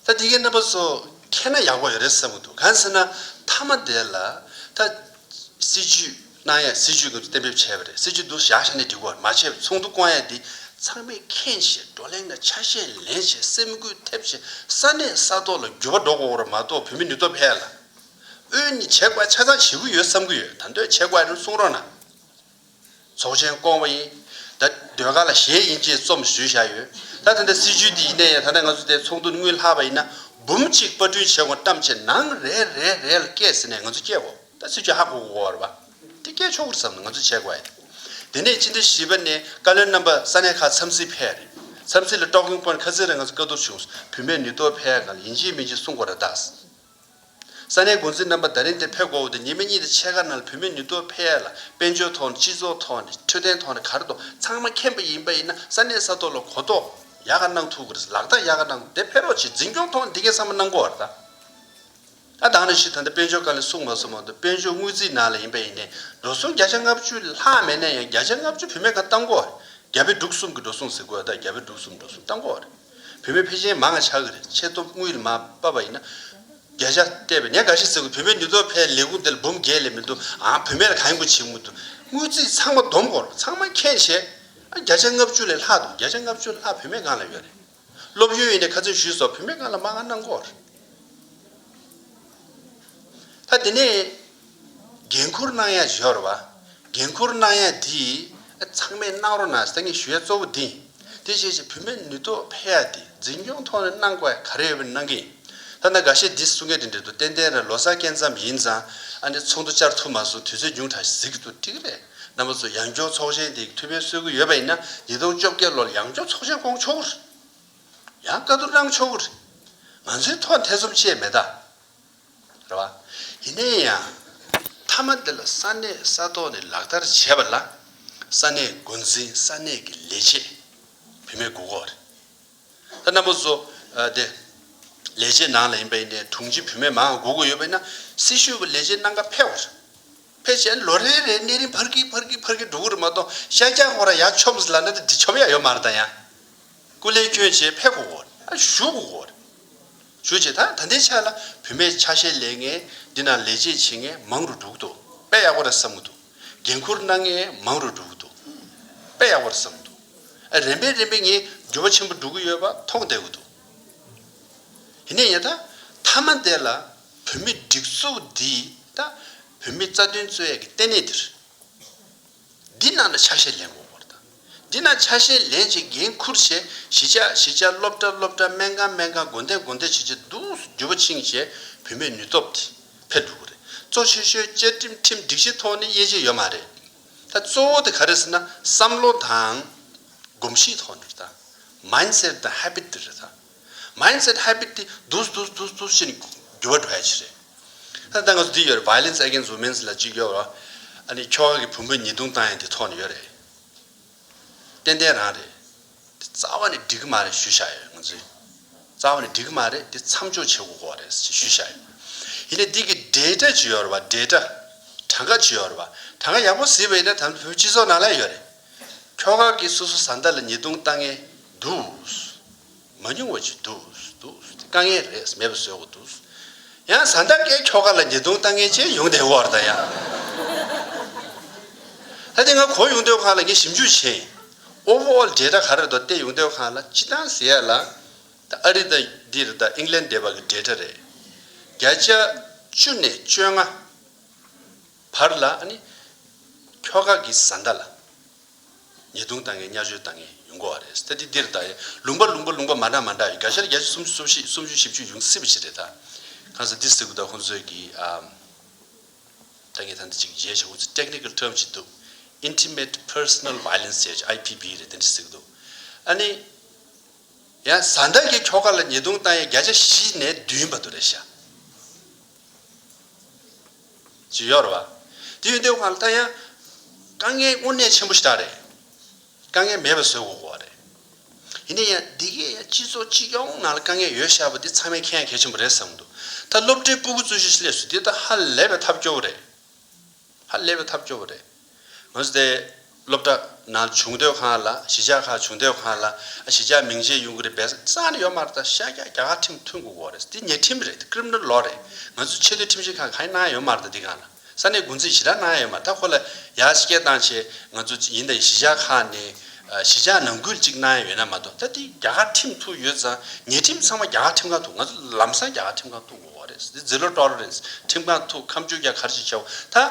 ད་འདི་གའི་རྣམ་པ་ཚོ་མཁྱེན་ན་ཡག་པོ་རེད་བསམ་གྱི་འདུག་གང་ཟེར་ན་མཐའ་མ་དེ་ལ་ད་སྲིད་ཇུས་གནང་ཡས་སྲིད་ཇུས་ཀྱི་གཏན་འབེབས་བྱས་པ་རེད་སྲིད་ཇུས་འདུག་བཞག་བཞག་ནས་འགྲིག་གོ་མ་བྱས་ཚོགས་འདུ་བསྐོང་ཡས་འདི་ཚང་མས་མཁྱེན་བཞིན་བགྲོ་གླེང་དང་ཆ་ཤས་ལེན་བཞིན་སེམས་འགུལ་ཐེབས་བཞིན་ས་གནས་ས་ཐོག་ལ་འགྱུར་བ་འགྲོ་དགོས་ར་མ་གཏོགས་བོད་མི་ནུས་སྟོབས་ཧེ་ལ་ཨོས་ནི་བྱེད་དཔའ་ཆ་ཚང་བྱེད་ཀྱི་ཡོད་བསམ་གྱི་ཡོད་ད་འདོད་བྱེད་དཔའ་རེ་གསུང་རོགས་གནང། ཚོགས་ཆེན་བསྐོང་བ་ཡིན། ད་ཟློས་གར་ལ་གཞས་ཡིན་ཅེས་རྩོམ་བཟོས་བཞག་ཡོད། ད་ཐེངས་ད་སྲིད་ཇུས་འདི་ཡིན་ནའི་ཡང་ད་ལྟ་ང་ཚོ་དེ་ཚོགས་འདུར་དངུལ་ལྷག་པ་ཡིན་ན་འབུམ་གཅིག་པར་སྐྲུན་བྱེད་དགོངས་གཏམ་བྱས་ནང་རེ་རེ་རེ་ལ་སྐད་ཟེར་ནས་ང་ཚོ་སྐྱེལ་དགོས་ད་སྲིད་ཇུས་ཧ་གོ་གོ་བར་བ་དེ་སྐྱེལ་ཆོག་གུར་བསམ་ན་ང་ཚོ་བྱེད་དགོས་ཨེ། དེ་ནས་སྤྱི་ཟླ་བཞི་པ་ནས་བཀའ་བློན་རྣམ་པ་ས་གནས་ཁག་འཚམས་གཟིགས་ཕེབས་རེད་འཚམས་གཟིགས་ལ་ཀྲོག་གིང་པོ་ཁ་ཚིག་རེ་ང་ཚོ་བཀའ་བསྡུར་བྱུང་བུད་མེད་ནུས་སྟོབས་ཕལ་གང་ལ་ཡིན་གཅིག་མིན་གཅིག་གསུང་དགོས་ར་གདའ། ས་གནས་འགོ་འཛིན་རྣམ་པ་ད་རིང་དེར་ཕེབས་དགོས་པ་དེ་ཉེས་མེད་གཉིས་དེ་ཕྱེད་ཀ་ནང་ལ་བུད་མེད་ནུས་སྟོབས་འཕེལ་ཡས་ལ་དཔལ་འབྱོར་ཐོག་ནས་སྤྱི་ཚོགས་ཐོག་ནས་འཕྲོད་བསྟེན་ཐོག་ནས་གར་དོ་ཚང་མ་མཁྱེན་པ་ཡིན་པ་ཡིན་ན་ས་གནས་ས་ཐོག་ལ་གོ་རྟོགས་ཡག་ག་གནང་ཐུབ་གི་རེད་ལག་བསྟར་ཡག་ག་གནང་དེ་ཕེབས་རོགས་བྱས་འཛིན་སྐྱོང་ཐོག་ནས་འདི་གས་ཚང་མ་གནང་དགོས་རེད་ད་ད་ནས་ཤིག་ད་ལྟ་དཔལ་འབྱོར་བཀའ་ལས་གསུངས་མ་སོང་བ་དང་དཔལ་འབྱོར་དངུལ་རྩིས་ནང་ལ་ཡིན་པ་ཡིན་ནས་འགྲོ་སོང་བརྒྱ་ཆ་ལྔ་བཅུ་ལྷག་མེད་ན་ཡང་བརྒྱ་ཆ་ལྔ་བཅུ་བུད་མེད་གང་བཏང་དགོས་རེད་རྒྱ་བལ་འབྲུག་གསུམ་གི་འགྲོ་སོང་ཟེར་དགོས་ད་རྒྱ་བལ་འབྲུག་གསུམ་འགྲོ་སོང་བཏང་དགོས་རེད། བུད་མེད་ཕལ་ཆེན་མང་ང་ཆགས་ཀྱི་རེད་ཆེ་སྟོབས་དངུལ་ལས་མ་སྤབ་པ་ཡིན་ན། རྒྱ་ཞག་བལྟས་པས་ཉག་ག་ཞིག་ཟེར་དགོས་བུད་མེད་ཉུ་ཚོགས་ཕལ་ལས་ཁུངས་དེ་ལ་འབུམ་བརྒྱད་ལས་མི་འདུག་ཨང་བུད་མེད་ལ་གང་ཡིན་དགོས་བྱེད་མི་འདུག་དངུལ་རྩིས་ཚང་མ་བསྡོམས་སྐོར་ཚང་མ་མཁྱེན་བྱས་ཨང་བརྒྱ་ཆ་ལྔ་བཅུ་ལས་ལྷག་འདུག་བརྒྱ་ཆ་ལྔ་བཅུ་ལྷག་བུད་མེད་སྒང་ལ་ཡོད་རེད། སློབ་ཡོན་ཡིན་ནས་ཁ་ཚོན་ཞུས་སོགས་བུད་མེད་སྒང་ལ་མ་ང་གནང་སྐོར་རེད། ད་དེ་ནས། འགན་འཁུར་གནང་ཡ་ཞོར་བ། འགན་འཁུར་གནང་ཡ་འདི། ཚང་མས་གནང་རོགས་གནང་ཟེར་ངེས་ཞུ་ཡ་གཙོ་བོ་འདི། དེ་བྱས་ཞེས་བུད་མེད་ནུས་སྟོབས་འཕེལ་ཡ་འདི་འཛིན་སྐྱོང་ཐོག་ནས་གནང་དགོས་ཡ་ག་རེ་ཡོད་པ་གནང་གི་ཡིན། ཐ་ན་འགའ་ཤས་འདི་གསུང་མཁན་དེ་འདྲེ་འདུག་ཏན་ཏན་རེད་ལོ་སར་སྐད་མཚམས་ཡིན་ཙང་ཨ་ནེ་ཚོགས་འདུ་བཅར་ཐུབ་མ་སོང་དུས་ཚོད་ཉུང་དྲགས་ཤིག་གཟིགས་འདུག་ཐིག་རེ་རྣམ་པ་ཚོ་ཡང་སྐྱོང་ཚོགས་ཆེན་དེ་ཐུ་བྷའི་གསོལ་གུ་ཡོད་པ་ཡིན་ན་ཉིས་སྟོང་བཅོ་བརྒྱད་ལོར་ཡང་སྐྱོང་ཚོགས་ཆེན་བསྐོང་ཆོག་གུ་རེད། ཡང་བཀའ་བསྡུར་གནང་ཆོག་གུ་རེད། ང་ཚོའི་ཐོག་འཐེ་ཚོམ་བཅད་མེད་ད། རེད་བ། ཡིན་ན་ཡང། མཐའ་མ་འདི་ལ་ས་གནས་ས་ཐོག་ནས་ལག་བསྟར་བྱས་པ་ལ། ས་གནས་འགོ་འཛིན་ས་གནས་ཀྱི་ལས་བྱེད་བུད་མེད་དགུ་ཁོག་རེད། ད་ནམ་པོ་བཟོ་དེ། ལས་བྱེད་ནང་ལ་ཡིན་པ་ཡིན་ནའི་དྲུང་ཆེ་བུད་མེད་མང་དགུ་ཁོག་ཡོད་པ་ཡིན་ན། སྲི་ཞུ་བ་ལས་བྱེད་སྣང་ག་ཕལ་བ་རེད། ཕལ་ཆེར་ལོ་རེ་རེར་གནས་རིན་འཕར་གི་འཕར་གི་འཕར་གི་འགྲོ་གི་རེད་མ་གཏོགས་ཤ་རྒྱག་གོ་ར་ཡ་ཆོབ་བཟི་ལ་ན་ད་དེ་ཆོབ་ཡ་ཡོད་མ་རེད་ད་ཡང། སྐུ་ལས་ཁྱོད་བྱེད་ཕལ་དགུ་ཁོག་རེད། ཨ་ཞུ་དགུ་ཁོག་རེད། ཞུ་བྱེད་དང་ད་ལྟའི་ཆ་ལ་བུད་མེད་ཆ་ཤས་ལས་ངན་འདི་ན་ལས་བྱེད་བྱེད་ངན་མང་རུ་འགྲོ་གི་འདུག་དཔེ་ཡག་པོ་རེད་བསམ་གི་འདུག་འགན་ཁུར་གནང་ངན་མང་རུ་འགྲོ་གི་འདུག་དཔེ་ཡག་པོ་རེད་བསམ་གི་འདུག་ཨ་རན་པས་རན་པས་ངས་འགྱུར་བ་ཆེན་པོ་འགྲོ་གི་ཡོད་པ་མཐོང་བསྡད་གི་འདུག་ཡིན་ནས་ཡང་ད་མཐའ་མ་འདས་ལ་བུད་མེད་སྒྲིག་འཛུགས་འདིས་ད་བུད་མེད་རྩ་དོན་རྩོད་ཡ་གི་ལྟེ་གནས་འདིར། འདི་རྣམས་ལ་ཆ་ཤས་ལེན་དགོས་སྐོར་དང། འདི་རྣམས་ཆ་ཤས་ལེན་བྱེད་འགན་འཁུར་བྱེད་གཞིས་ཆགས་གཞིས་ཆགས་སློབ་གྲྭ་སློབ་གྲྭ་སྨན་ཁང་སྨན་ཁང་དགོན་སྡེ་དགོན་སྡེ་བྱེད་བྱེད་འདུག་བརྒྱུད་པ་ཆིངས་བཞེས་བུད་མེད་ནུས་སྟོབས་དེ་ཕེབས་འདུག་གོ་རེད་གཙོ་ཆེ་ཤོས་བཅའ་ཁྲིམས་ཁྲིམས་སྒྲིག་གཞི་ཐོག་ནས་དབྱེ་འབྱེད་ཡོད་མ་རེད་ད་གཙོ་བོ་དེ་ག་རེ་ཟེར་ན་བསམ་བློ་དང། གོམས་གཤིས་ཐོག་ནས་རེད་ད། Mindset དང Habit དེ་རེད་ད། Mindset Habit དེ་དུས་དུས་དུས་དུས་ཕྱིར་འགྱུར་བ་འགྲོ་ཡ་ཆེ་རེད། ད་ང་ཚོ་འདི་ཡོད་རེད Violence Against Women's ལ་གཅིག་ཡོད་རེད། ཨ་ནི་ཁྱོ་ག་གི་བུ་འབུད་ཉེས་རྡུང་བཏང་ཡ་འདི་ཐོག་ནས་ཡོད་རེད། ཏན་ཏན་རང་རེད། འདི་རྩ་བ་ནས་འགྲིག་གི་མ་རེད་ཞུ་བཞག་ཡོད་ང་ཚོས། རྩ་བ་ནས་འགྲིག་གི་མ་རེད་འདི་མཚམས་འཇོག་བྱེད་དགོས་གོ་རེད་ཞུ་བཞག་ཡོད། ཡིན་ནས་འདི་གི་འབྲེལ་སྒྲ་ཇི་ཡོད་རེད་འབྲེལ་སྒྲ། གྲངས་ཀ་ཇི་ཡོད་རེད། གྲངས་ཀ་ཡག་པོ་གཟིགས་པ་ཡིན་ན་ད་བོད་སྤྱི་ཚོགས་ནང་ལ་ཡོད་རེད། ཁྱོ་ག་གི་སོ་སོ་བཟའ་ཟླ་ལ་ཉེས་རྡུང་བཏང་ངེས་འདུག། མ་ཉུང་བ་ཞིག་འདུག་འདུག་དཀའ་ངལ་རེས་མེད་པ་བཟོས་འོག་འདུག། ཡང་བཟའ་ཟླ་འགའི་ཁྱོ་ག་ལ་ཉེས་རྡུང་བཏང་མཁན་བཅས་ཡོང་བསྡད་འོག་ད་ཡང། ད་དེ་ང་གོ་ཡོང་སྡོད་ཁང་ལ་ངས་ཞིབ་འཇུག་བྱས། Overall Data ག་རེད་དོ་སྟེ་ཡོང་སྡོད་ཁང་ལ་སྤྱི་བཏང་ཟེར་ཡག་ལ། ད་ཨ་རི་དང་འདིར་ད England སྡེ་བ་གི Data རེད། བརྒྱ་ཆ་བཅུ་ནས་བཅོ་ལྔ་བར་ལ་ཨ་ནི། ཁྱོ་ག་གི་བཟའ་ཟླ་ལ། ཉེས་རྡུང་བཏང་ངེས་བརྙས་བཅོས་བཏང་ངེས་ཡོང་གོ་བ་རེད་སྟ་དེ་འདིར་ད་ཡིན་ལུང་པ་ལུང་པ་ལུང་པ་མ་འདྲ་མ་འདྲ་ཡོད་དགའ་ཤར་བརྒྱད་ཅུ་སུམ་ཅུ་སོ་བཞི་སུམ་ཅུ་བཞི་བཅུ་ཡོང་སྲིད་པ་ཞིག་རེད་ད། གང་ཟེར་འདི་སེ་གུ་ད་ཁོང་ཚོས་ཀྱིས་ད་ངས་ད་འདི་གཅིག་བརྗེད་བྱས་ཁོང་ཚོས Technical Term ཞིག་འདུག Intimate Personal Violence ཞེས་བྱས IPV རེད་དེ་འདྲ་ཟེར་གྱི་འདུག་ཨ་ནི། ཡང་བཟའ་ཟླ་ཀྱི་ཁྱོ་ག་ལ་ཉེས་རྡུང་བཏང་ཡས་བརྒྱ་ཆ་བཞི་ནས་བདུན་བར་དུ་རེད་བྱ། ཇི་ཡོར་བ། དེ་ཡོན་ཏན་བར་མཐའ་ཡང། དཀའ་ངལ་དངོས་གནས་ཆེན་པོ་ཞིག་རེད། དཀའ་ངལ་མེད་པ་བཟོས་དགོས་པ་རེད། ཡིན་ན་ཡང་འདི་གའི་ཡང་སྤྱི་ཚོགས་སྤྱི་ཡོངས་ནང་ལ་དཀའ་ངལ་ཡོད་ཤག་པ་འདི་ཚང་མའི་ཁྱད་ཡང་གལ་ཆེན་པོ་རེད་བསམ་འདུག་ད་སློབ་གྲྭའི་སྤུ་གུ་གཙོས་གཞིས་སླེབས་སུ་འདི་ད་ཧ་ལས་པའི་ཐབས་སྐྱོ་བོ་རེད། ཧ་ལས་པའི་ཐབས་སྐྱོ་བོ་རེད། ངོས་ཏེ། སློབ་གྲྭ། ན་བྱུང་སྡོད་ཁང་ལ་གཞིས་ཆགས་ཁག་བྱུང་སྡོད་ཁང་ལ་གཞིས་ཆགས་མིང་བྱས་ཡུང་ཀི་རི་བེས་སང་ནི་ཡོ་མ་ར་ད་ཤ་རྒྱ་རྒྱ་གར་ཁྲིམས་ཐུན་གུ་གོ་རེད་འདི་ཉེ་ཁྲིམས་རེད་འདི་ཀིརིམ་ནར་ལོ་རེད་ང་ཚོས་ཆེ་བསྟོད་ཁྲིམས་ཞིབ་ཁང་གང་ཡིན་གནང་ཡ་ཡོ་མ་ར་ད་འདི་གང་ལ་ས་གནས་དགུ་འཛིན་ཞི་དྲག་གནང་ཡ་ཡོ་མ་ར་ད་ཁོ་ལ་ཡ་སྐད་བཏང་ཆེ་ང་ཚོ་ཡིན་ད་ཡི་གཞིས་ཆགས་ཁག་ནས་གཞིས་ཆགས་ནང་ཁུལ་ཅིག་གནང་ཡ་ཡོད་ན་མ་གཏོགས་ད་འདི་རྒྱ་གར་ཁྲིམས་ཐུ་ཡོད་ཙང་ཉེ་ཁྲིམས་ཚང་མ་རྒྱ་གར་ཁྲིམས་ཁང་ཐུ་ང་ཚོ་ལམ་སང་རྒྱ་གར་ཁྲིམས་ཁང་ཐུ་གུ་གོ་རེད་འདི་ཛི་ལོ་ཏོ་རེད་ཁྲིམས་ཁང་ཐུ་ཁམས་ཆུ་རྒྱ་གར་ཞིག་ཆེ་བ་ད།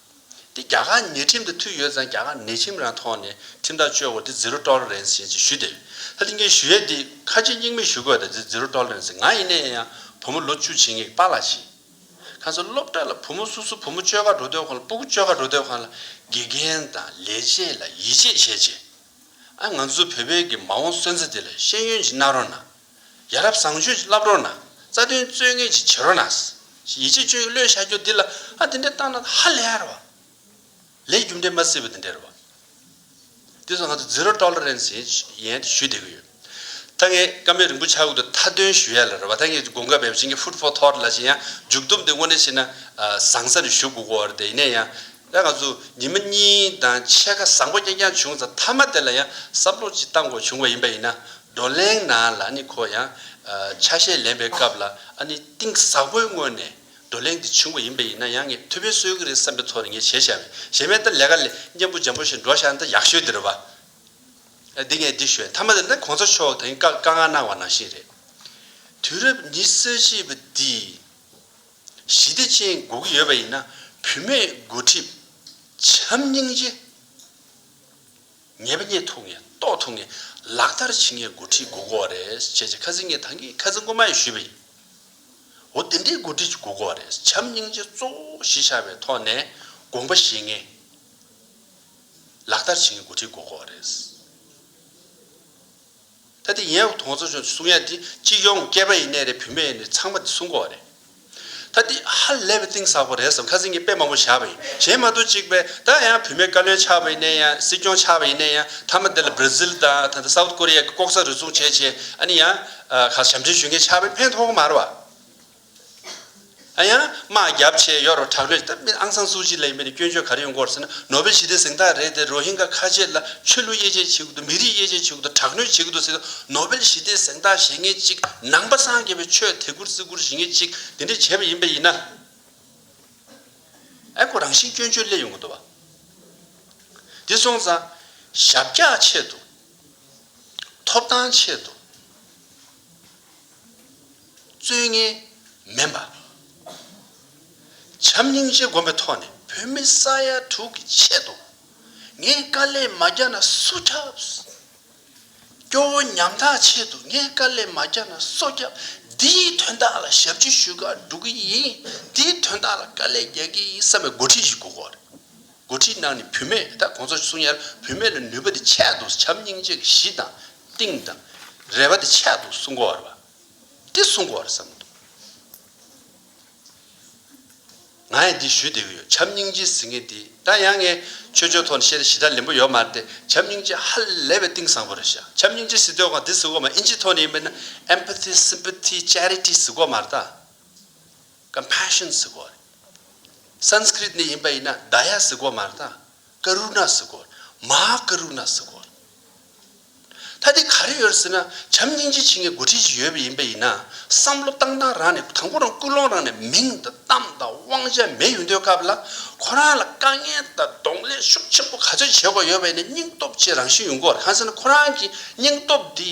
དེ་རྒྱ་གར་ཉེས་ཁྲིམས་དེ་མཐུད་ཡོད་ཙང་རྒྱ་གར་ནད་ཁྲིམས་རང་ཐོག་ནས་ཁྲིམས་ཐག་གཅོད་དགོས་དེ Zero Tolerance ཞེས་ཞུ་དེ་རེད། ཧ་ལིང་ཀའི་ཞུ་ཡས་དེ་ཁ་ཆེ་སྙིང་མེད་ཞུ་དགོས་དེ Zero Tolerance ང་ཡིན་ནའི་ཡང་བུ་མོ་ལོ་བཅུ་བྱིན་ངེས་པཱ་ལགས་ཤིག་ཁ་ཚོད་སློབ་གྲྭ་ལ་བུ་མོ་སོ་སོ་བུ་མོ་སྤྱོད་ཁ་འགྲོ་སྡོད་ཁང་ལ་སྤུ་གུ་སྤྱོད་ཁ་འགྲོ་སྡོད་ཁང་ལ་དགེ་རྒན་དང་ལས་བྱེད་ལ་ཡིད་ཆེས་བྱས་བྱས་ཨ་ང་ཚོ་བོད་པའི་གི་མ་འོང་སོན་རྩ་དེ་ལ་ཤེས་ཡོན་གྱི་རྣ་རོ་ན། ཡ་རབས་བཟང་སྤྱོད་ཅིག་བསླབ་རོགས་གནང། རྩ་དོན་རྩོད་ངེས་ཅིག་བྱེད་རོགས་གནང། ཡིད་ཆེས་སྤྱོད་ཡུལ་བློས་བྱ་རྒྱུ་འདི་ལ། ཨ་འདི་འདྲའི་བཏང་ན་ཧ་ལས་ཨ་ར་བ། ལས་རྒྱུ་འབྲས་མ་བསིལ་བ་འདི་འདྲའི་ར་བ། འདི་ཚོ་ང་ཚོ Zero Tolerance ཡན་ཡན་དུ་ཞུས་བསྡད་ཀྱི་ཡོད། ད་ངས་ཀ་མེད་རིང་པོ་ཆ་བགོས་འདུག་མཐའ་དོན་ཞུ་ཡ་ལ་ར་བ་ད་ངས་དགོངས་ཀ་འབེབས་བྱེད་ཀྱི Food for Thought ལ་བྱེད་ཡ་མཇུག་བསྡོམས་འདི་དངོས་གནས་བྱེད་ན་བཟང་ས་རེ་ཞུ་དགོས་གོ་བ་རེད་ཡིན་ན་ཡང་ལྷའི་ང་ཚོས་ཉི་མ་གཉིས་དང་ཕྱེད་ཀ་བཟང་པོ་རྐྱང་རྐྱང་བྱུང་ཙང་མཐའ་མ་དེ་ལ་ཡང་བསམ་བློ་ཅིག་བཏང་དགོས་བྱུང་བ་ཡིན་པ་ཡིན་ན། བགྲོ་གླེང་ནང་ལ་ཨ་ནི་ཁོ་ཡང། ཆ་ཤས་ལེན་པའི་སྐབས་ལ་ཨ་ནི་གཏིང་ཟབ་པོའི་སྔོན་ནས་བགྲོ་གླེང་དེ་བྱུང་བ་ཡིན་པ་ཡིན་ན་ཡང་ངས་ཐུགས་ཕན་གསོས་ཀྱི་རེད་བསམ་པའི་ཐོག་ནས་ངས་བྱས་བཞག་མེད་བྱས་མེད་ལྟར་ལས་ཀ་ལས་གཉེན་པོ་འཇམ་པོ་ཞིག་འགྲོ་བཞག་འདི་ཡག་ཤོས་འདི་རེད་བ། འདི་ངས་འདི་ཞུས་མཐའ་མ་དེ་ལ་གོང་ས་མཆོག་དེང་སྐབས་དཀའ་ངལ་གནང་བ་ནང་བཞིན་རེད། དུས་རབས་ཉི་ས་བཞི་པ་འདིས། ཞི་བདེ་ཅན་དགོས་ཀྱི་ཡོད་པ་ཡིན་ན་བུད་མེད་སྒོ་ཁྲིད། བྱམས་སྙིང་རྗེ། ཉེས་པ་རྙེད་ཐུབ་ངེས་རྟོགས་ཐུབ་ངེས་ལག་བསྟར་བྱེད་ངེས་སྒོ་ཁྲིད་དགོས་མཁོ་བ་རེད་བྱས་རྗེས་ཁ་ཟས་ངས་ཐང་གིས་ཁ་ཟས་མགོ་མ་ཡིས་ཞུས་པ་ཡིན། འོ་དེ་འདྲའི་སྒོ་ཁྲིད་ཅིག་དགོས་མཁོ་བ་རེད་བྱམས་སྙིང་རྗེ་གཙོ་བོ་གཞི་ཆགས་པའི་ཐོག་ནས་དགོངས་པ་བཞེས་ངེས། ལག་བསྟར་བྱེད་ངེས་སྒོ་ཁྲིད་དགོས་མཁོ་བ་རེད། ད་དེ་ཡིན་ཨང་དོང་ཚོ་ཆུང་གསུང་ཡ་དེ་གཅིག་ཡོང་ངོ་སྐྱེས་པ་ཡིན་ནས་རེད་བུད་མེད་ཡིན་ནས་ཚང་མ་དེ་གསུང་གོ་རེད་ད་དེ་ཧ་ལས་པའི་གཏིང་ཟག་པོ་རེད་བསམ་ཁ་ཟིང་གི་དཔེ་མང་པོ་བཞག་པ་ཡིན་གཞན་མ་གཏོགས་གཅིག་པས་ད་ཡང་བུད་མེད་བཀའ་བློན་ཆགས་པ་ཡིན་ནས་ཡང་སྲིད་སྐྱོང་ཆགས་པ་ཡིན་ནས་ཡང་མཐའ་མ་དེ་ལ་བྷར་ཛིལ་དང་ད་ལྟ South Korea གི་ལྐོག་ཟ་རུལ་སུངས་བྱས་བྱས་ཨ་ནི་ཡང་གང་ཞབས་འདྲེན་ཞུས་མཁན་ཆགས་པས་ཕན་ཐོག་གི་མ་རེད་བ། ཡང་དམག་རྒྱབ་ཆེད་གཡོག་རུ་དྲག་གནོད་སྟབས་མི་ཨང་སང་སུའུ་ཅི་ལ་ཡིན་པའི་སྐྱོན་བརྗོད་ག་རེ་ཡོང་སྐོར་ཟེར་ན་ནོ་བྷེལ་ཞི་བདེ་གཟེངས་རྟགས་རེད་དེ་རོ་ཧིན་གྷ་ཁ་ཆེ་ལ་ཆོས་ལུགས་དབྱེ་འབྱེད་བྱེད་གི་འདུག་མི་རིགས་དབྱེ་འབྱེད་བྱེད་གི་འདུག་དྲག་གནོད་བྱེད་གི་འདུག་ཟེར་དུས་ནོ་བྷེལ་ཞི་བདེ་གཟེངས་རྟགས་བཞེས་མཁན་གཅིག་ནང་པ་སངས་རྒྱས་པའི་ཆོས་དད་གུར་བརྩི་བཀུར་བྱེད་མཁན་གཅིག་དེ་འདྲས་བྱས་པ་ཡིན་པ་ཡིན་ན། ཨེ་ཁོ་རང་བཞིན་སྐྱོན་བརྗོད་སླད་ཡོང་གི་འདུག་བ། དེ་སོང་ཙང། ཞབས་བཀྱག་ཆེད་དུ། ཐོབ་ཐང་ཆེད་དུ། རྩོད་ངན་མིན་པ། བྱམས་སྙིང་རྗེ་སྒོམ་པའི་ཐོག་ནས་བོད་མི་ས་ཡ་དྲུག་གི་ཆེད་དུ་ངས་དཀའ་ལས་མ་རྒྱག་ན་སུ་ཁྱབ། སྐྱོ་བོ་ཉམ་ཐག་ཆེད་དུ་ངས་དཀའ་ལས་མ་རྒྱག་ན་སུ་ཁྱབ། འདིའི་དོན་དག་ལ་ཞབས་ཕྱི་ཞུས་ཁག་སྒྲུབ་ཀྱི་ཡིན། འདིའི་དོན་དག་ལ་དཀའ་ལས་རྒྱག་གི་ཡིན་བསམ་པའི་མགོ་ཁྲིད་ཞིག་དགོས་གོ་རེད། མགོ་ཁྲིད་ནང་ནས་བུད་མེད་ད་གོང་ཚོ་གསུང་ཡར་བུད་མེད་ལ་ནུས་པ་དེ་ཆད་འདུག་བྱམས་སྙིང་རྗེ་གིས་གཞི་དང་གཏིང་དང་རེ་བ་དེ་ཆད་འདུག་གསུང་གོ་རེད། འདི་གསུང་དགོས་བར་བསམ། ང་ཡང་འདི་ཞུས་བསྡད་ཀྱི་ཡོད་བྱམས་སྙིང་རྗེའི་ཟིང་ངེ་འདི་ད་ཡང་ངས་ཆོས་ཆོས་ཐོག་ནས་བཤད་ན་ཞི་དྲག་ལེན་པོ་ཡོད་མ་རེད་དེ་བྱམས་སྙིང་རྗེ་ཧ་ལས་པའི་གཏིང་བཟང་པོ་རེད་ཤག་བྱམས་སྙིང་རྗེ་ཟིག་དོན་གང་འདི་ཟིག་འོག་མ་ཨིན་ཇིའི་ཐོག་ནས་ཡིན་པས་ན Empathy Sympathy Charity ཟིག་འོག་མ་རེད་ད Compassion ཟིག་འོག་རེད Sanskrit ནས་ཡིན་པ་ཡིན་ན Daya ཟིག་འོག་མ་རེད་ད། Karuna Sagar། Maha Karuna Sagar། ད་དེ་ག་རེ་ཡོད་ཟེར་ན་བྱམས་སྙིང་རྗེ་ཆེ་མཁན་འགོ་ཁྲིད་ཅིག་ཡོད་པ་ཡིན་པས་ཡིན་ན་བསམ་བློ་བཏང་སྟངས་རང་ནས་དང་པོ་རང་ཀུན་སློང་རང་ནས་མིང་དང་གཏམ་དང་དབང་ཆ་མེད་ཡོད་འདོད་སྐབས་ལ་ཁོ་རང་ལ་དཀའ་ངལ་དང་གདོང་ལེན་ཤུགས་ཆེན་པོ་ག་ཚོད་བྱེད་དགོས་ཡོད་པས་ནས་སྙིང་སྟོབས་ཆེ་རང་བཞིན་ཡོང་དགོས་ར་ཧང་ཟེར་ན་ཁོ་རང་གི་སྙིང་སྟོབས་འདི།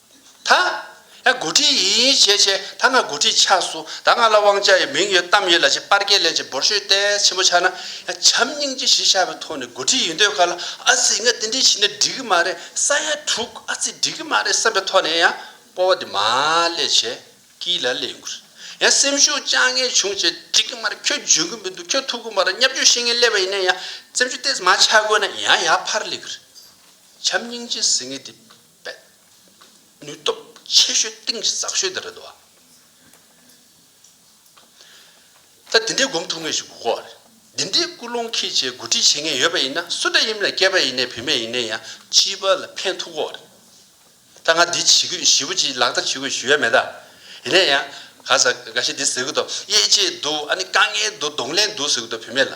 ད་ང་དགུ་ཁྲི་ཡིན་བྱས་བྱས་ད་ང་དགུ་ཁྲི་ཆགས་སུ་ད་ང་ལ་དབང་ཆ་ཡོད་མིང་ཡོད་གཏམ་ཡོད་ལ་ཅེས་པར་སྐད་ལན་ཅིག་འབོར་ཤོད་ཏེ་ཕྱི་མོ་ཆགས་ན་ཡང་བྱམས་སྙིང་རྗེ་གཞི་ཆགས་པའི་ཐོག་ནས་དགུ་ཁྲི་ཡིན་འདོད་ག་ལ་ཨ་ཙི་ང་དེ་འདྲས་བྱས་ན་འགྲིག་གི་མ་རེད་ས་ཡ་དྲུག་ཨ་ཙི་འགྲིག་གི་མ་རེད་བསམ་པའི་ཐོག་ནས་ཡང་སྤོ་བ་དེ་མ་ལས་བྱས་ཀི་ལ་ལས་འགུལ་ཡང་སེམས་ཤུགས་བཅང་ངེས་བྱུང་བྱས་འགྲིག་གི་མ་རེད་ཁྱོད་འཇོན་གི་མི་འདུག་ཁྱོད་ཐུབ་གི་མ་རེད་སྙབ་རྒྱུ་ཤེས་ངེས་སླེབས་པ་ཡིན་ན་ཡང་བཙན་བྱོལ་གཏེས་མ་ཆགས་དགོས་ན་ཡང་ཡག་ཕར་ལེགས་རེད་བྱམས་སྙིང་རྗེ་ཟེར་ངེས་དེ། པའི་ནུས་སྟོབས་ཆེ་ཤོས་གཏིང་ཟབ་ཤོས་འདི་རེད་དོ། ད་འདི་འདྲའི་སྒོམ་ཐུབ་ངེས་ཞིག་དགོས་སྐོར། འདི་འདྲའི་ཀུན་སློང་ཁྱེད་ཆེ་གོ་སྒྲིག་བྱེད་མཁན་ཡོད་པ་ཡིན་ན་སུ་འདྲ་ཡིན་མིན་ལ་སྐྱེས་པ་ཡིན་ནའི་བུད་མེད་ཡིན་ནའི་ཡང་སྤྱི་པ་ལ་ཕན་ཐུག་སྐོར། ད་ང་འདི་བྱེད་དགོས་ཞེས་པོ་ཅིག་ལག་བསྟར་བྱེད་དགོས་ཞུ་ཡ་མེད་ད། ཡིན་ན་ཡང་ག་ས་ག་ཞིག་འདི་ཟེར་གི་འདུག་དབྱེ་འབྱེད་འདུག་ཨ་ནི་དཀའ་ངལ་འདུག་གདོང་ལེན་འདུག་ཟེར་གི་འདུག་བུད་མེད་ལ།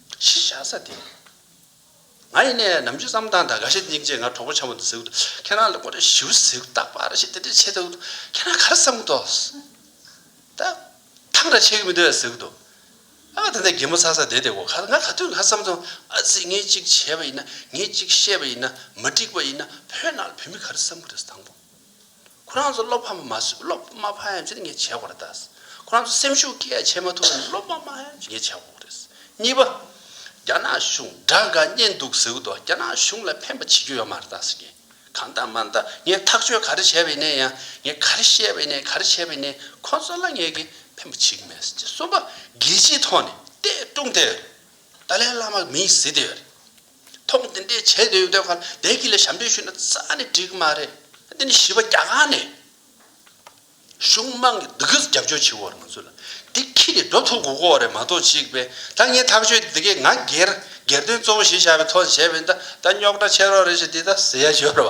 གཞི་བཞག་ས་དེ། ང་ཡེ་ནས་ནམ་རྒྱུན་བསམ་སྟངས་དང་དགའ་ཞེན་སྙིང་རྗེ་ང་གྲོགས་པོ་ཆ་མོ་འདི་ཟེར་དུས་ཁྱེད་རང་ལ་ཀོ་རེ་ཞིའུ་ཟེར་གི་རྟག་པར་ཞེ་ཏེ་ཏེ་བྱེད་དུས་ཁྱེད་རང་ག་རེ་བསམ་གི་འདུག་ད་ཐང་རེ་བྱེད་ཀྱི་མི་འདུག་ཟེར་གི་འདུག་ཨ་ད་ནས་རྒན་མོ་ཚ་ས་དེ་དེ་གོ་ཁ་ང་ག་དུས་ང་བསམ་སོང་ཨ་ཙི་ངས་ཅིག་བྱས་པ་ཡིན་ན་ངས་ཅིག་བཤད་པ་ཡིན་ན་མ་འགྲིག་པ་ཡིན་ན་བོད་ནང་ལ་བོད་མི་ག་རེ་བསམ་གི་རེད་ཟེར་དང་པོ། ཁོ་རང་ཚོ་བློ་ཕམ་མ་ཟོས་བློ་མ་ཕམ་ཡང་ཅི་ངས་བྱས་དགོས་རེད། ཁོ་རང་ཚོ་སེམས་ཤུགས་སྐྱེད་བྱེད་མ་ཐུབ་ན་བློ་མ་ཕམ་ཡང་ཅི་ངས་བྱས་དགོས་རེད། གཉིས་པ། རྒྱ་ནག་གཞུང་དགྲ་འགའ་རྙེད་འདུག་ཟེར་གི་འདུག་རྒྱ་ནག་གཞུང་ལ་ཕན་པ་བྱེད་རྒྱུ་ཡོད་མ་རེད་ཟེར་གི། གང་ལྟ་མ་ལྟ་ངས་ཐག་གཅོད་ག་རེ་བྱས་པ་ཡིན་ན་ཡང་ངས་ག་རེ་བཤད་པ་ཡིན་ན་ག་རེ་བྱས་པ་ཡིན་ན་ཁོ་ཚོ་ལ་ངས་ཀྱི་ཕན་པ་བྱེད་ཀྱི་མེད་ཟེར་གྱི། གསུམ་པ། རྒྱལ་སྤྱིའི་ཐོག་ནས་ཏེ་ཀྲུང་དེ་ཡོད་རེད། ཏཱ་ལའི་བླ་མ་མིང་ཟེར་དེ་ཡོད་རེད། ཐོག་འདི་འདྲའི་བྱས་འདོད་ཡོད་འདོད་ཁ་བདེ་སྐྱིད་ལ་ཞབས་འདྲེན་ཞུས་ན་རྩ་ནས་འགྲིག་གི་མ་རེད། འདི་ནི་བྱིས་པ་རྒྱ་གར་ནས་གཞུང་དམངས་ཀྱི་སྡུག་སྐྱོན་རྒྱབ་སྐྱོར་བྱེད་འོག་རུ་ང་ཚོ་ལ་འདི་ཁྱི་ནས་འགྲོ་ཐུབ་དགོས་སྐོར་རེད་མ་གཏོགས་གཅིག་པས་ད་ངས་ཐག་གཅོད་འདི་གས་ང་སྒེར་སྒེར་དོན་གཙོ་བོ་བྱེད་བཞག་པའི་ཐོག་ནས་བྱས་པ་ཡིན་ད་ད་རྙོག་དྲ་ཆེ་རོགས་རེད་ཞེས་འདི་ལྟར་ཟེར་ཡ་ཞོར་བ།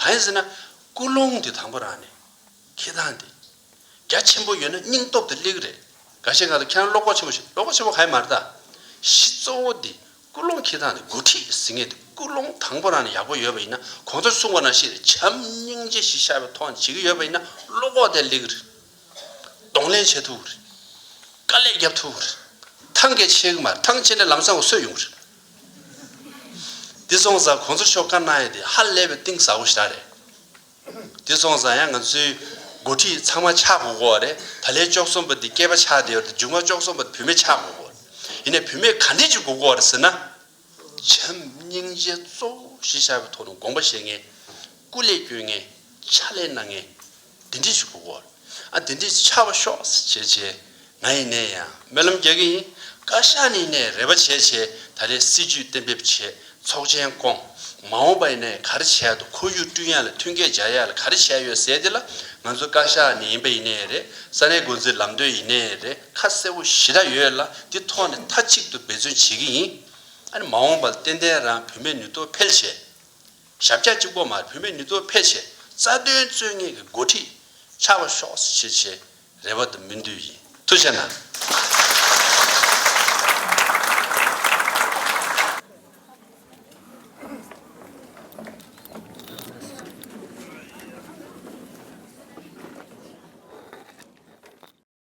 གང་ཡིན་ཟེར་ན། ཀུན་སློང་འདི་དང་པོ་རང་ནས་ཁེ་དང་དེ། རྒྱ་ཆེན་པོ་ཡོད་ན་སྙིང་སྟོབས་དེ་གླེགས་རེད། འགའ་ཤས་ཁ་ལ་ཁྱེད་རང་བློ་ཁོག་ཆེན་པོ་ཞིག་བློ་ཁོག་ཆེན་པོ་ག་ཡིན་མ་རེད་ད། གཞི་གཙོ་བོ་འདི་ཀུན་སློང་ཁེ་དང་དེ་འགོ་ཁྲིད་ཟེར་ངེས་དེ་ཀུན་སློང་དང་པོ་རང་ནས་ཡག་པོ་ཡོད་པ་ཡིན་ན་གོང་ས་གསུངས་པ་རྣམས་ཤེས་ཏེ་བྱམས་སྙིང་རྗེ་གཞི་ཤ་བའི་ཐོག་ནས་བྱེད་ཀྱི་ཡོད་པ་ཡིན་ན་བློ་ཁོག་དེ་གླེགས་རེད། གདོང་ལེན་བྱེད་ཐུབ་རེད། དཀའ་ལས་རྒྱབ་ཐུབ་རེད། ཐང་གས་ཆད་གི་མ་རེད་ཐང་ཆད་ནས་ལམ་སང་གི་སྲོད་ཡོང་གི་རེད། དེ་སོང་ཙང་ཁོང་ཚོ་ཤོག་ཁ་གནང་ཡས་དེ་ཧ་ལས་པའི་གཏིང་ཟ་བོ་ཞིག་རེད། དེ་སོང་ཙང་ཡང་ང་ཚོའི་འགོ་ཁྲིད་ཚང་མ་ཆགས་དགོས་གོ་རེད། ད་ལྷའི་ཅོག་གསུམ་པ་དེ་སྐྱེས་པ་ཆགས་དེ་ཡོད་དེ་མཇུག་མ་ཅོག་གསུམ་པ་དེ་བུད་མེད་ཆགས་དགོས་གོ་རེད། ཡིན་ནས་བུད་མེད་ག་འདྲས་ཅིག་དགོས་གོ་རེད་ཟེར་ན། བྱམས་སྙིང་རྗེ་གཙོ་བོ་ཞེས་བྱ་བའི་ཐོག་ནས་དགོངས་པ་བཞེས་ངེས། སྐུ་ལས་བསྐྱོན་ངེས། ཕྱག་ལས་གནང་ངེས། འདི་འདྲས་ཞུགས་པ་བོ། ཨ་འདི་འདྲས་ཆགས་པ་ཤོག་བྱས་བྱས། ང་ཡི་ནས་ཡང་སྨོན་ལམ་རྒྱག་གི་ཡིན། བཀའ་ཤག་ནས་ནས་རེ་བ་བྱས་བྱས་ད་རེས་སྲིད་ཇུས་གཏན་འབེབས་བྱས་ཚོགས་ཆེན་བསྐོང། མ་འོངས་པ་ཡི་ནས་ག་རེ་བྱས་དུ་ཁོར་ཡུག་བསྐྲུན་ཡག་ལ་ཐོན་སྐྱེད་བྱ་ཡག་ལ་ག་རེ་བྱས་ཡོད་ཟེར་དེ་ལ་ང་ཚོ་བཀའ་ཤག་ནས་ཡིན་པ་ཡི་ནས་རེད་ས་གནས་འགོ་འཛིན་ལམ་སྟོན་ཡི་ནས་རེད་ཁ་གསལ་བོ་ཞེ་དྲག་ཡོད་ལ་འདི་ཐོག་ནས་མཐའ་གཅིག་ཏུ་འབད་བརྩོན་བྱེད་ཀྱི་ཡིན། ཨ་ནི་མ་འོངས་པ་ལ་ཏན་ཏན་རང་བུད་མེད་ནུས་སྟོབས་འཕེལ་བྱས། ཞབས་རྒྱ་གཅིག་པོ་མར་བུད་མེད་ནུས་སྟོབས་འཕེལ་ཆེད་རྩ་དོན་རྩོད་ངེས་ཀྱི་འགོ་ཁྲིད་ཆགས་པ་ཤོག་ཤེས་ཆེ་རེ་བ་དུ་མི་འདུས་ཡིན་ཐུ་ཆེ་ན།